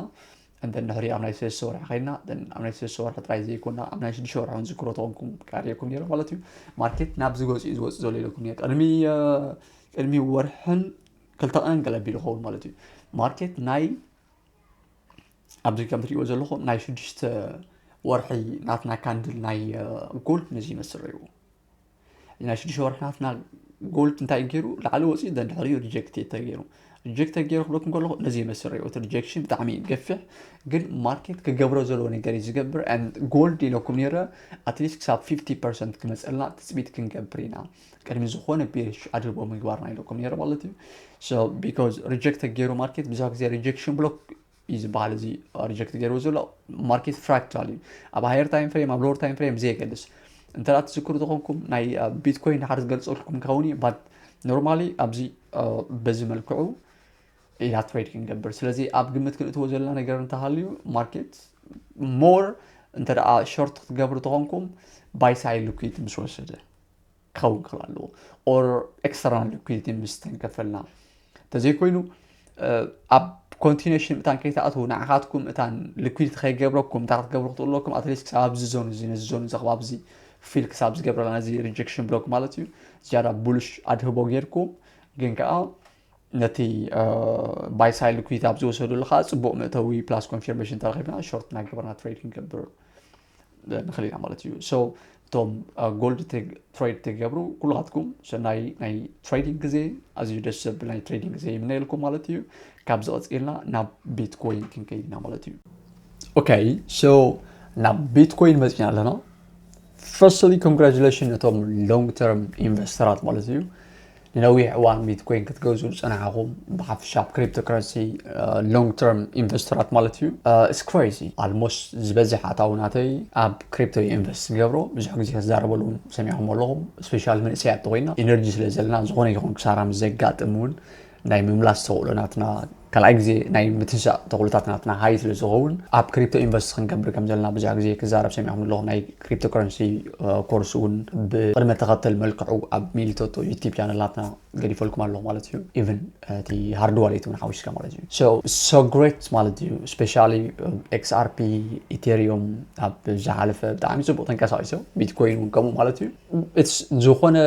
እንተን ድሕሪ ኣብ ናይ ሰለስተ ወርሒ ከይድና ኣብ ናይ ሰለስተ ወርሒ ጥራይ ዘይኮና ኣብ ናይ ሽዱሽተ ወርሒ እውን ዝክሮ ተኾንኩም ቃሪኩም ነይረ ማለት እዩ ማርኬት ናብ ዝገፅ እዩ ዝወፅእ ዘሎ ኢለኩም ቅድሚ ቅድሚ ወርሕን ክልተ ቀንቅል ኣቢሉ ይኸውን ማለት እዩ ማርኬት ናይ ኣብዚ ከም ትሪእዎ ዘለኹም ናይ ሽዱሽተ ወርሒ ናትና ካንድል ናይ ጎልድ ነዚ ይመስል ረይዎ ናይ ሽዱሽተ ወርሒ ናትና ጎልድ እንታይ ገይሩ ላዕሊ ወፂኡ ደንድሕሪኡ ሪጀክት ተገይሩ ሪጀክት ተገይሩ ክብለኩም ከለኹ ነዚ ይመስል ረይዎ እቲ ሪጀክሽን ብጣዕሚ ገፊሕ ግን ማርኬት ክገብሮ ዘለዎ ነገር እዩ ዝገብር ጎልድ ኢለኩም ነረ ኣትሊስት ክሳብ 50 ፐርሰንት ክመፀልና ትፅቢት ክንገብር ኢና ቅድሚ ዝኾነ ቢሪሽ ኣድልቦ ምግባርና ኢለኩም ነይረ ማለት እዩ ሶ ቢካዝ ሪጀክት ገይሩ ማርኬት ብዙሕ ግዜ ሪጀክሽን ብሎክ እዩ ዝበሃል እዚ ሪጀክት ገይሩ ዘሎ ማርኬት ፍራክታል እዩ ኣብ ሃየር ታይም ፍሬም ኣብ ሎወር ታይም ፍሬም ብዘየገድስ እንተ ትዝክሩ ዝኾንኩም ናይ ቢትኮይን ድሓር ዝገልፀልኩም ከውን እዩ ባት ኖርማሊ ኣብዚ በዚ መልክዑ ኢላ ትሬድ ክንገብር ስለዚ ኣብ ግምት ክንእትዎ ዘለና ነገር እንተሃልዩ ማርኬት ሞር እንተ ሾርት ክትገብሩ ተኾንኩም ባይሳይ ልኩት ምስ ወስደ ክኸውን ክኽእል ኣለዎ ኦር ኤክስተርናል ሊኩዲቲ ምስ ተንከፈልና እንተዘይኮይኑ ኣብ ኮንቲነሽን እታን ከይትኣትዉ ንዓኻትኩም እታን ሊኩዲቲ ከይገብረኩም እንታይ ክትገብሩ ክትኽእሉ ኣለኩም ኣትሊስት ክሳብ ኣብዚ ዞን እዚ ነዚ ዞን እዚ ክባብ እዚ ፊል ክሳብ ዝገብረላ ነዚ ሪጀክሽን ብሎክ ማለት እዩ ዝያዳ ቡሉሽ ኣድህቦ ጌርኩም ግን ከዓ ነቲ ባይሳይ ሊኩዲቲ ኣብ ዝወሰዱሉ ከዓ ፅቡቅ መእተዊ ፕላስ ኮንፊርሜሽን ተረኪብና ሾርት እናገበርና ትሬድ ክንገብር ንኽእል ኢና ማለት እዩ ሶ እቶም ጎልድ ትሬድ ትገብሩ ኩላትኩም ሰናይ ናይ ትሬዲንግ ግዜ ኣዝዩ ደስ ዘብል ናይ ትሬዲንግ ግዜ ይምነየልኩም ማለት እዩ ካብ ዝቐፅልና ናብ ቢትኮይን ክንከይድ ኢና ማለት እዩ ኦኬ ሶ ናብ ቢትኮይን መፅና ኣለና ፈርስትሊ ኮንግራጁሌሽን ነቶም ሎንግ ተርም ኢንቨስተራት ማለት እዩ ንነዊሕ እዋን ቢትኮይን ክትገዝኡ ዝጸናሕኹም ብሓፈሻ ኣብ ክሪፕቶ ከረንሲ ሎንግ ተርም ኢንቨስተራት ማለት እዩ ኢትስ ክሬዚ ኣልሞስት ዝበዝሕ ኣታዊ ናተይ ኣብ ክሪፕቶ እዩ ኢንቨስት ዝገብሮ ብዙሕ ግዜ ክዛረበሉ እውን ሰሚዕኹም ኣለኹም ስፔሻል መንእሰያት ተኮይና ኢነርጂ ስለ ዘለና ዝኾነ ይኹን ክሳራ ምስ ዘጋጥም እውን ናይ ምምላስ ተኽእሎ ናትና ካልኣይ ግዜ ናይ ምትንሳእ ተኽእሎታት ናትና ሃይ ስለ ዝኸውን ኣብ ክሪፕቶ ኢንቨስት ክንገብር ከም ዘለና ብዙሕ ግዜ ክዛረብ ሰሚዕኩም ኣለኹ ናይ ክሪፕቶ ከረንሲ ኮርስ እውን ብቅድመ ተኸተል መልክዑ ኣብ ሚሊቶቶ ዩቲብ ቻነላትና ገዲፈልኩም ኣለኹ ማለት እዩ ኢቨን እቲ ሃርድ ዋሌት እውን ሓዊስካ ማለት እዩ ሶ ሶ ግሬት ማለት እዩ ስፔሻሊ ኤክስኣርፒ ኢቴሪዮም ኣብ ዝሓለፈ ብጣዕሚ ፅቡቅ ተንቀሳቂሶ ቢትኮይን እውን ከምኡ ማለት እዩ ዝኾነ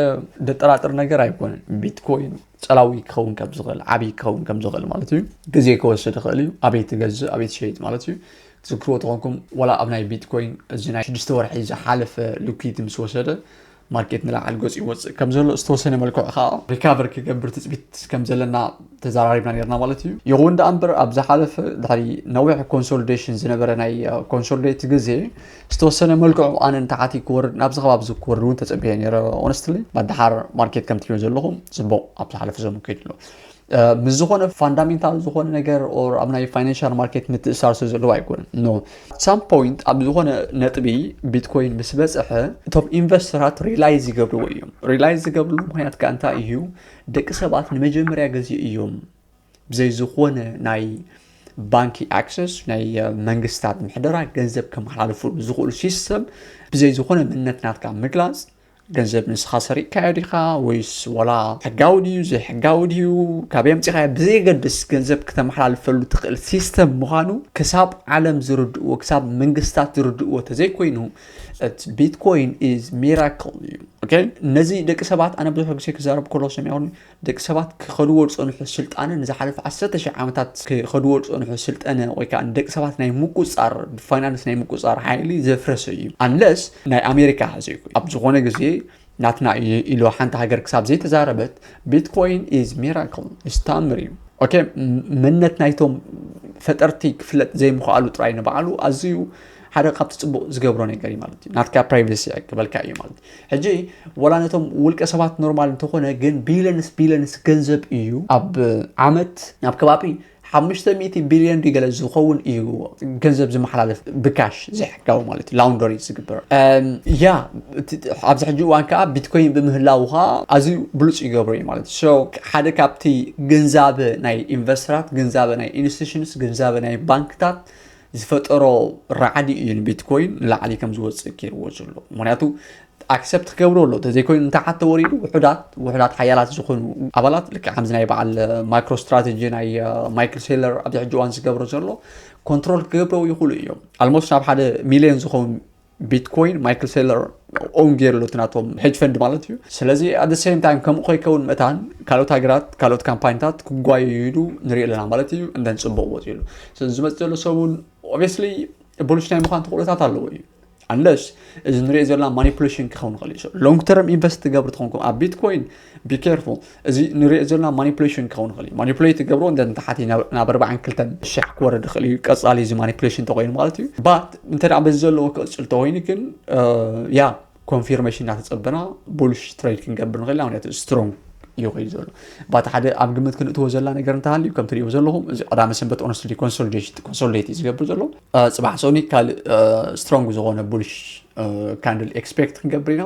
ደጠራጥር ነገር ኣይኮነን ቢትኮይን ፀላዊ ክኸውን ከም ዝኽእል ዓብይ ክኸውን ከም ዝኽእል ማለት እዩ ግዜ ክወስድ ይኽእል እዩ ኣበይ ትገዝእ ኣበይ ትሸይጥ ማለት እዩ ትዝክርዎ ተኾንኩም ዋላ ኣብ ናይ ቢትኮይን እዚ ናይ ሽዱሽተ ወርሒ ዝሓለፈ ልኩይቲ ምስ ወሰደ ማርኬት ንላዕል ገፁ ይወፅእ ከም ዘሎ ዝተወሰነ መልክዑ ከዓ ሪካቨር ክገብር ትፅቢት ከም ዘለና ተዘራሪብና ነርና ማለት እዩ ይኹን ደኣ እምበር ኣብ ዝሓለፈ ድሕሪ ነዊሕ ኮንሶሊዴሽን ዝነበረ ናይ ኮንሶሊዴት ግዜ ዝተወሰነ መልክዑ ኣነ ንታሓቲ ክወርድ ናብዚ ከባቢ እዚ ክወርድ እውን ተፀቢየ ነይረ ኦነስትሊ ባት ደሓር ማርኬት ከም ትሪእዮ ዘለኹም ፅቡቕ ኣብ ዝሓለፈ ዘመን ከይዱ ኣሎ ምስ ዝኾነ ፋንዳሜንታል ዝኾነ ነገር ኦር ኣብ ናይ ፋይናንሻል ማርኬት ምትእሳር ስለ ዘለዎ ኣይኮነን ኖ ሳም ፖይንት ኣብ ዝኾነ ነጥቢ ቢትኮይን ምስ በፅሐ እቶም ኢንቨስተራት ሪላይዝ ይገብርዎ እዮም ሪላይዝ ዝገብርሉ ምክንያት ከዓ እንታይ እዩ ደቂ ሰባት ንመጀመርያ ግዜ እዮም ብዘይ ዝኾነ ናይ ባንኪ ኣክሰስ ናይ መንግስታት ምሕደራ ገንዘብ ከመሓላልፉ ዝኽእሉ ሲስተም ብዘይ ዝኾነ ምነት ናትካ ምግላፅ ገንዘብ ንስኻ ሰሪቕካዮ ዲኻ ወይስ ወላ ሕጋዊ ድዩ ዘይሕጋዊ ድዩ ካብ የምፂኻዮ ብዘየገድስ ገንዘብ ክተመሓላልፈሉ ትኽእል ሲስተም ምዃኑ ክሳብ ዓለም ዝርድእዎ ክሳብ መንግስታት ዝርድእዎ ተዘይኮይኑ ቢትኮይን ኢዝ ሚራክል እዩ ነዚ ደቂ ሰባት ኣነ ብዙሕ ግዜ ክዛረብ ከሎ ሰሚዖ ደቂ ሰባት ክኸድዎ ዝጸንሑ ስልጣነ ንዝሓለፈ ዓሰርተ ሽሕ ዓመታት ክኸድዎ ዝጸንሑ ስልጠነ ወይ ከኣ ንደቂ ሰባት ናይ ምቁጽጻር ብፋይናንስ ናይ ምቁጽጻር ሓይሊ ዘፍረሰ እዩ ኣንለስ ናይ ኣሜሪካ ዘይኮ ኣብ ዝኾነ ግዜ ናትና እዩ ኢሎ ሓንቲ ሃገር ክሳብ ዘይተዛረበት ቢትኮይን ኢዝ ሚራክል ኢዝ ታምር እዩ ኦኬ መነት ናይቶም ፈጠርቲ ክፍለጥ ዘይምኽኣሉ ጥራይ ንበዓሉ ኣዝዩ ሓደ ካብቲ ጽቡቕ ዝገብሮ ነገር እዩ ማለት እዩ ናትካ ፕራይቬሲ ኣይቅበልካ እዩ ማለት እዩ ሕጂ ወላ ነቶም ውልቀ ሰባት ኖርማል እንተኾነ ግን ቢልዮንስ ቢልዮንስ ገንዘብ እዩ ኣብ ዓመት ናብ ከባቢ ሓሙሽተ ሚእቲ ቢልዮን ድዩ ገለ ዝኸውን እዩ ገንዘብ ዝመሓላለፍ ብካሽ ዘይሕጋዊ ማለት እዩ ላውንደሪ ዝግበር እም፣ ያ እቲ- ኣብዚ ሕጂ እዋን ከዓ ቢትኮይን ብምህላው ከዓ ኣዝዩ ብሉፅ ይገብሮ እዩ ማለት እዩ So፣ ሓደ ካብቲ ግንዛበ ናይ ኢንቨስተራት ግንዛበ ናይ ኢንስቲቱሽንስ ግንዛበ ናይ ባንክታት ዝፈጠሮ ራዕዲ እዩ ንቢትኮይን ንላዕሊ ከም ዝወፅእ ገይርዎ ዘሎ ምክንያቱ ኣክሰፕት ክገብሮ ኣሎ ተዘይኮይኑ ንታሓት ተወሪዱ ውሑዳት ውሑዳት ሓያላት ዝኾኑ ኣባላት ልክዕ ከምዚ ናይ በዓል ማይክሮ ስትራቴጂ ናይ ማይክል ሴለር ኣብዚ ሕጂ እዋን ዝገብሮ ዘሎ ኮንትሮል ክገብረው ይኽእሉ እዮም ኣልሞስት ናብ ሓደ ሚሊዮን ዝኸውን ቢትኮይን ማይክል ሴለር ኦን ገይሩ ኣሎ ናቶም ሄጅ ፈንድ ማለት እዩ ስለዚ ኣብ ሴም ታይም ከምኡ ከይከውን መታን ካልኦት ሃገራት ካልኦት ካምፓኒታት ክጓየዩሉ ንሪኢ ኣለና ማለት እዩ እንደን ፅቡቅ ወፂሉ ስለዚ ዝመፅ ዘሎ ሰሙን ኦብስሊ ብሉሽ ናይ ምኳን ተኽእሎታት ኣለዎ እዩ ኣለስ እዚ ንሪኦ ዘለና ማኒፕሌሽን ክኸውን ይኽእል እዩ ሎንግ ተርም ኢንቨስት ትገብሩ ትኾንኩም ኣብ ቢትኮይን ቢኬርፉል እዚ ንሪኦ ዘለና ማኒፕሌሽን ክኸውን ይኽእል እዩ ማኒፕሌት ገብሮ እንተ ንታሓቲ ናብ ኣርባዕን ክልተን ሸሕ ክወርድ ይኽእል እዩ ቀፃሊ እዚ ማኒፕሌሽን እንተኮይኑ ማለት እዩ ባት እንተ በዚ ዘለዎ ክቕፅል እንተኮይኑ ግን ያ ኮንፊርሜሽን እናተፀበና ቡልሽ ትሬድ ክንገብር ንኽእል ኢና ምክንያቱ ስትሮንግ እዩ ኮይኑ ዘሎ ባቲ ሓደ ኣብ ግምት ክንእትዎ ዘለና ነገር እንተሃልዩ ከም ትሪእዎ ዘለኹም እዚ ቀዳመ ሰንበት ኦነስትዲ ኮንሶሊዴሽን ኮንሶሊዴት እዩ ዝገብር ዘሎ ፅባሕ ሶኒ ካልእ ስትሮንግ ዝኾነ ቡልሽ ካንድል ኤክስፔክት ክንገብር ኢና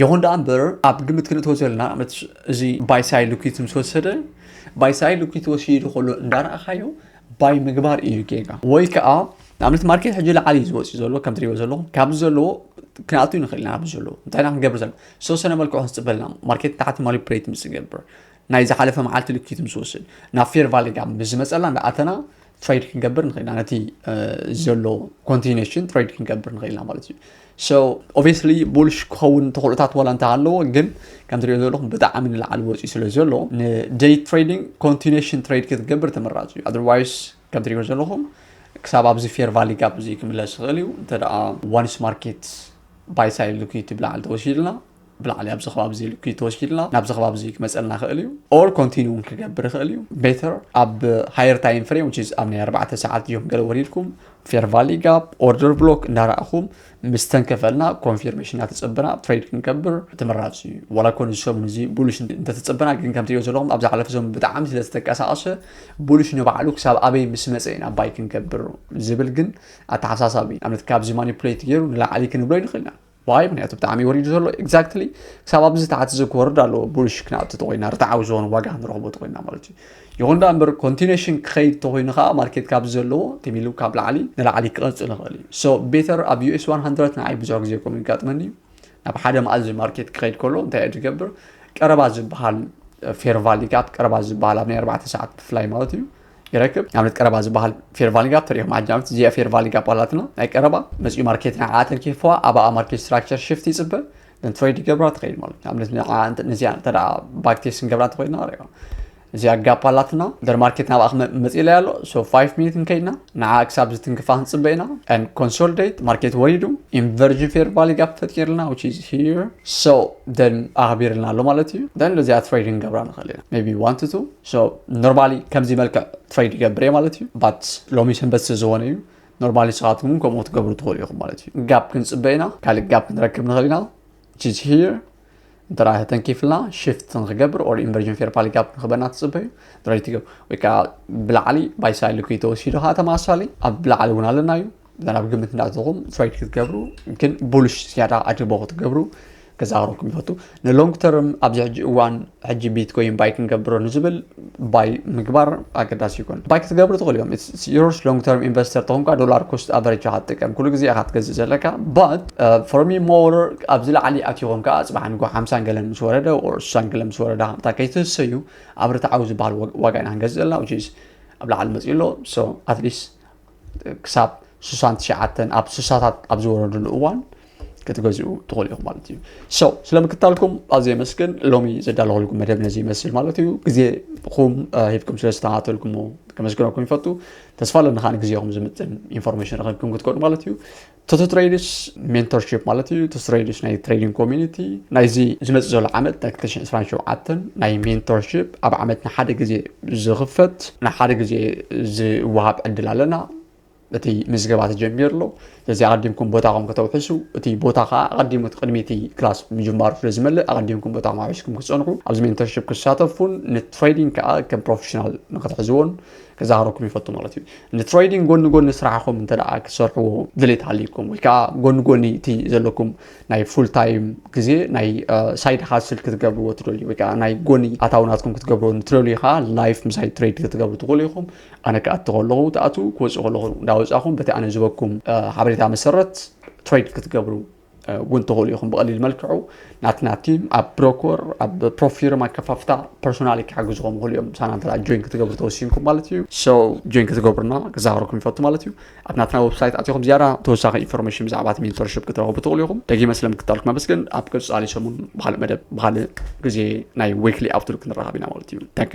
ይኹን ደኣ እምበር ኣብ ግምት ክንእትወ ዘለና እዚ ባይሳይ ልኪት ምስ ወሰደ ባይሳይ ልኪት ወሲዱ ከሎ እንዳረኣኻዮ ባይ ምግባር እዩ ጌጋ ወይ ከዓ ንኣብነት ማርኬት ሕጂ ላዓሊ እዩ ዝወፅእ ዘሎ ከም ትሪእዎ ዘለኹም ካብዚ ዘለዎ ክንኣቱ ንኽእል ኢና ኣብዚ ዘለዎ እንታይ ኢና ክንገብር ዘለና ዝተወሰነ መልክዑ ክንፅበልና ማርኬት ታሕቲ ማኒፕሬት ምስ ዝገብር ናይ ዝሓለፈ መዓልቲ ልኪት ምስ ወስድ ናብ ፌር ቫሊ ጋም ምስ ዝመፀላ እንዳኣተና ትሬድ ክንገብር ንኽእል ኢና ነቲ ዘሎ ኮንቲኔሽን ትሬድ ክንገብር ንኽእል ኢና ማለት እዩ ሶ ኦብስሊ ቡልሽ ክኸውን ተኽእሎታት ዋላ እንተ ኣለዎ ግን ከም ትሪኦ ዘለኹም ብጣዕሚ ንላዕሊ ወፂኡ ስለ ዘሎ ንደይ ትሬዲንግ ኮንቲኔሽን ትሬድ ክትገብር ተመራፂ እዩ ኣደርዋይስ ከም ትሪኦ ዘለኹም ክሳብ ኣብዚ ፌር ቫሊ ጋብ እዚ ክምለስ ይኽእል እዩ እንተ ደኣ ዋንስ ማርኬት ባይ ሳይድ ልኩ ትብላዓል ተወሲድና ብላዕሊ ኣብዚ ከባቢ እዚ ልክዩ ተወሲድና ናብዚ ከባቢ እዚ ክመፀልና ክእል እዩ ኦር ኮንቲኒ እውን ክገብር ይኽእል እዩ ቤተር ኣብ ሃየር ታይም ፍሬም ዊች ኣብ ናይ ኣርባዕተ ሰዓት እዮም ገለ ወሪድኩም ፌር ቫሊ ጋፕ ኦርደር ብሎክ እንዳረእኹም ምስ ተንከፈልና ኮንፊርሜሽን እናተፀበና ትሬድ ክንገብር ተመራፂ እዩ ዋላ ኮነ እዚ ሰሙን እዚ ቡሉሽ እንተተፀበና ግን ከም ትሪኦ ዘለኹም ኣብ ዝሓለፈ ሰሙን ብጣዕሚ ስለ ዝተንቀሳቐሰ ቡሉሽ ንባዕሉ ክሳብ ኣበይ ምስ መፀ ኢና ባይ ክንገብር ዝብል ግን ኣተሓሳሳቢ እዩ ንኣብነት ካብዚ ማኒፕሌት ገይሩ ንላዕሊ ክንብሎ ይንኽእል ኢና ዋይ ምክንያቱ ብጣዕሚ ወሪዱ ዘሎ ኤግዛክትሊ ክሳብ ኣብዚ ተዓት እዚ ክወርድ ኣለዎ ቡልሽ ክናብቲ ተኮይና ርትዓዊ ዝኮነ ዋጋ ንረክቦ ተኮይና ማለት እዩ ይኹን ዳ እምበር ኮንቲኔሽን ክኸይድ ተኮይኑ ከዓ ማርኬት ካብ ዘለዎ ቲሚሉ ካብ ላዕሊ ንላዕሊ ክቐፅል ይኽእል እዩ ሶ ቤተር ኣብ ዩኤስ 100 ንዓይ ብዙሕ ግዜ ከምኡ ይጋጥመኒ እዩ ናብ ሓደ መኣዚ ማርኬት ክኸይድ ከሎ እንታይ እዩ ዝገብር ቀረባ ዝበሃል ፌር ቫሊ ጋፕ ቀረባ ዝበሃል ኣብ ናይ ኣርባዕተ ሰዓት ብፍላይ ማለት እዩ ይረክብ ንኣብነት ቀረባ ዝበሃል ፌርቫሊንጋ ተሪኦም ዓጃምት እዚኣ ፌርቫሊንጋ ኣባላትና ናይ ቀረባ መፅኡ ማርኬት ናይ ዓተን ኬፍዋ ኣባኣ ማርኬት ስትራክቸር ሽፍት ይፅበ ንትሬድ ይገብራ ትኸይድ ማለት ንኣብነት ንዚኣ እንተ ባክቴስ ንገብራ እንተኮይና ሪኦ እዚኣ ጋፕ ኣላትና ደር ማርኬት ናብኣ ክመፅ ኢለ ኣሎ ሶ 5 ሚኒት ንከይድና ንዓ ክሳብ ዝትንክፋ ክንፅበ ኢና ን ኮንሶልዴት ማርኬት ወሪዱ ኢንቨርጅን ፌር ቫሊ ጋፕ ፈጢርልና ዊች ኢዝ ሂር ሶ ደን ኣኽቢርልና ኣሎ ማለት እዩ ደን እዚኣ ትሬድ ንገብራ ንኽእል ኢና ቢ ዋን ቱ ሶ ኖርማሊ ከምዚ መልክዕ ትሬድ ይገብር እየ ማለት እዩ ባት ሎሚ ሰንበት ስለዝኾነ እዩ ኖርማሊ ንስኻትኩም እውን ከምኡ ክትገብሩ ትኽእሉ ኢኹም ማለት እዩ ጋብ ክንፅበ ኢና ካልእ ጋብ ክንረክብ ንኽእል ኢና ቺዝ ሂር እንተ ተንኪፍልና ሽፍት ንክገብር ኦር ኢንቨርዥን ፌር ፓሊ ጋብ ንክበና ትፅበዩ ድራይ ትገብር ወይ ከዓ ብላዕሊ ባይሳይል ኩይ ተወሲዱ ከዓ ተመሳሳሊ ኣብ ብላዕሊ እውን ኣለና እዩ ናብ ግምት እናእተኹም ትሬድ ክትገብሩ ግን ቡልሽ ዝያዳ ኣድቦ ክትገብሩ ክዛረኩም ይፈቱ ንሎንግ ተርም ኣብዚ ሕጂ እዋን ሕጂ ቢትኮይን ባይ ክንገብሮ ንዝብል ባይ ምግባር ኣገዳሲ ይኮን ባይ ክትገብሩ ትኽእሉ እዮም ዮርስ ሎንግ ተርም ኢንቨስተር ተኾንካ ዶላር ኮስት ኣቨሬጅ ኢኻ ትጥቀም ኩሉ ግዜ ኢኻ ትገዝእ ዘለካ ባት ፎርሚ ሞር ኣብዚ ላዕሊ ኣትዮኾን ከዓ ፅባሕ ንጎ ሓምሳን ገለ ምስ ወረደ ኦር ስሳን ገለ ምስ ወረደ ከምታ ከይትህሰዩ ኣብ ርትዓዊ ዝበሃል ዋጋ ኢና ክንገዝእ ዘለና ኣብ ላዕሊ መፅኡ ኣሎ ሶ ኣትሊስት ክሳብ ስሳን ትሽዓተን ኣብ ስሳታት ኣብ ዝወረድሉ እዋን ክትገዝኡ ትኽእሉ ኢኹም ማለት እዩ ሰው ስለ ምክታልኩም ኣዝየ የመስግን ሎሚ ዘዳለኹልኩም መደብ ነዚ ይመስል ማለት እዩ ግዜኹም ሂብኩም ስለ ዝተኸታተልኩሞ ከመስግነኩም ይፈቱ ተስፋ ኣለኒ ከዓ ግዜኹም ዝምጥን ኢንፎርሜሽን ረኸብኩም ክትኮኑ ማለት እዩ ቶቶ ትሬድስ ሜንቶርሺፕ ማለት እዩ ቶቶ ትሬድስ ናይ ትሬዲንግ ኮሚኒቲ ናይዚ ዝመፅእ ዘሎ ዓመት ናይ 227 ናይ ሜንቶርሺፕ ኣብ ዓመት ንሓደ ግዜ ዝኽፈት ንሓደ ግዜ ዝወሃብ ዕድል ኣለና እቲ ምዝገባ ተጀሚሩ ኣሎ ስለዚ ኣቐዲምኩም ቦታኹም ከተውሕሱ እቲ ቦታ ከዓ ኣቐዲሙ ቅድሚ እቲ ክላስ ምጅማሩ ስለ ዝመልእ ኣቐዲምኩም ቦታኹም ኣውሒስኩም ክፀንሑ ኣብዚ ሜንተርሽፕ ክሳተፉን ንትሬዲንግ ከዓ ከም ፕሮፌሽናል ንክትሕዝዎን ክዛረኩም ይፈቱ ማለት እዩ ንትሬዲንግ ጎኒ ጎኒ ስራሕኹም እንተ ክሰርሕዎ ድሌት ሃልይኩም ወይ ከዓ ጎኒ ጎኒ እቲ ዘለኩም ናይ ፉል ታይም ግዜ ናይ ሳይድ ሃስል ክትገብርዎ ትደልዩ ወይ ከዓ ናይ ጎኒ ኣታውናትኩም ክትገብርዎ ንትደልዩ ከዓ ላይፍ ምሳይ ትሬድ ክትገብሩ ትኽእሉ ኢኹም ኣነ ክኣቲ ከለኹ ትኣትዉ ክወፅኡ ከለኹ እንዳወፃኹም በቲ ኣነ ዝበኩም ሓበሬታ መሰረት ትሬድ ክትገብሩ ውን ተኸሉ ኢኹም ብቐሊል መልክዑ ናትና ቲም ኣብ ብሮኮር ኣብ ፕሮፊርም ኣከፋፍታ ፐርሶናሊ ክሓግዝኹም ይኽእሉ እዮም ሳና እንተ ጆይን ክትገብሩ ተወሲንኩም ማለት እዩ ሶ ጆይን ክትገብሩና ክዛረኩም ይፈቱ ማለት እዩ ኣብ ናትና ወብሳይት ኣትኹም ዝያዳ ተወሳኺ ኢንፎርሜሽን ብዛዕባ እቲ ሜንቶርሽፕ ክትረኽቡ ትኽእሉ ኢኹም ደጊመ ስለምክታልኩም ኣመስግን ኣብ ቅፃሊ ሰሙን ብካልእ መደብ ብካልእ ግዜ ናይ ዌክሊ ኣውትሉክ ንራኸብ ኢና ማለት እዩ ታንክ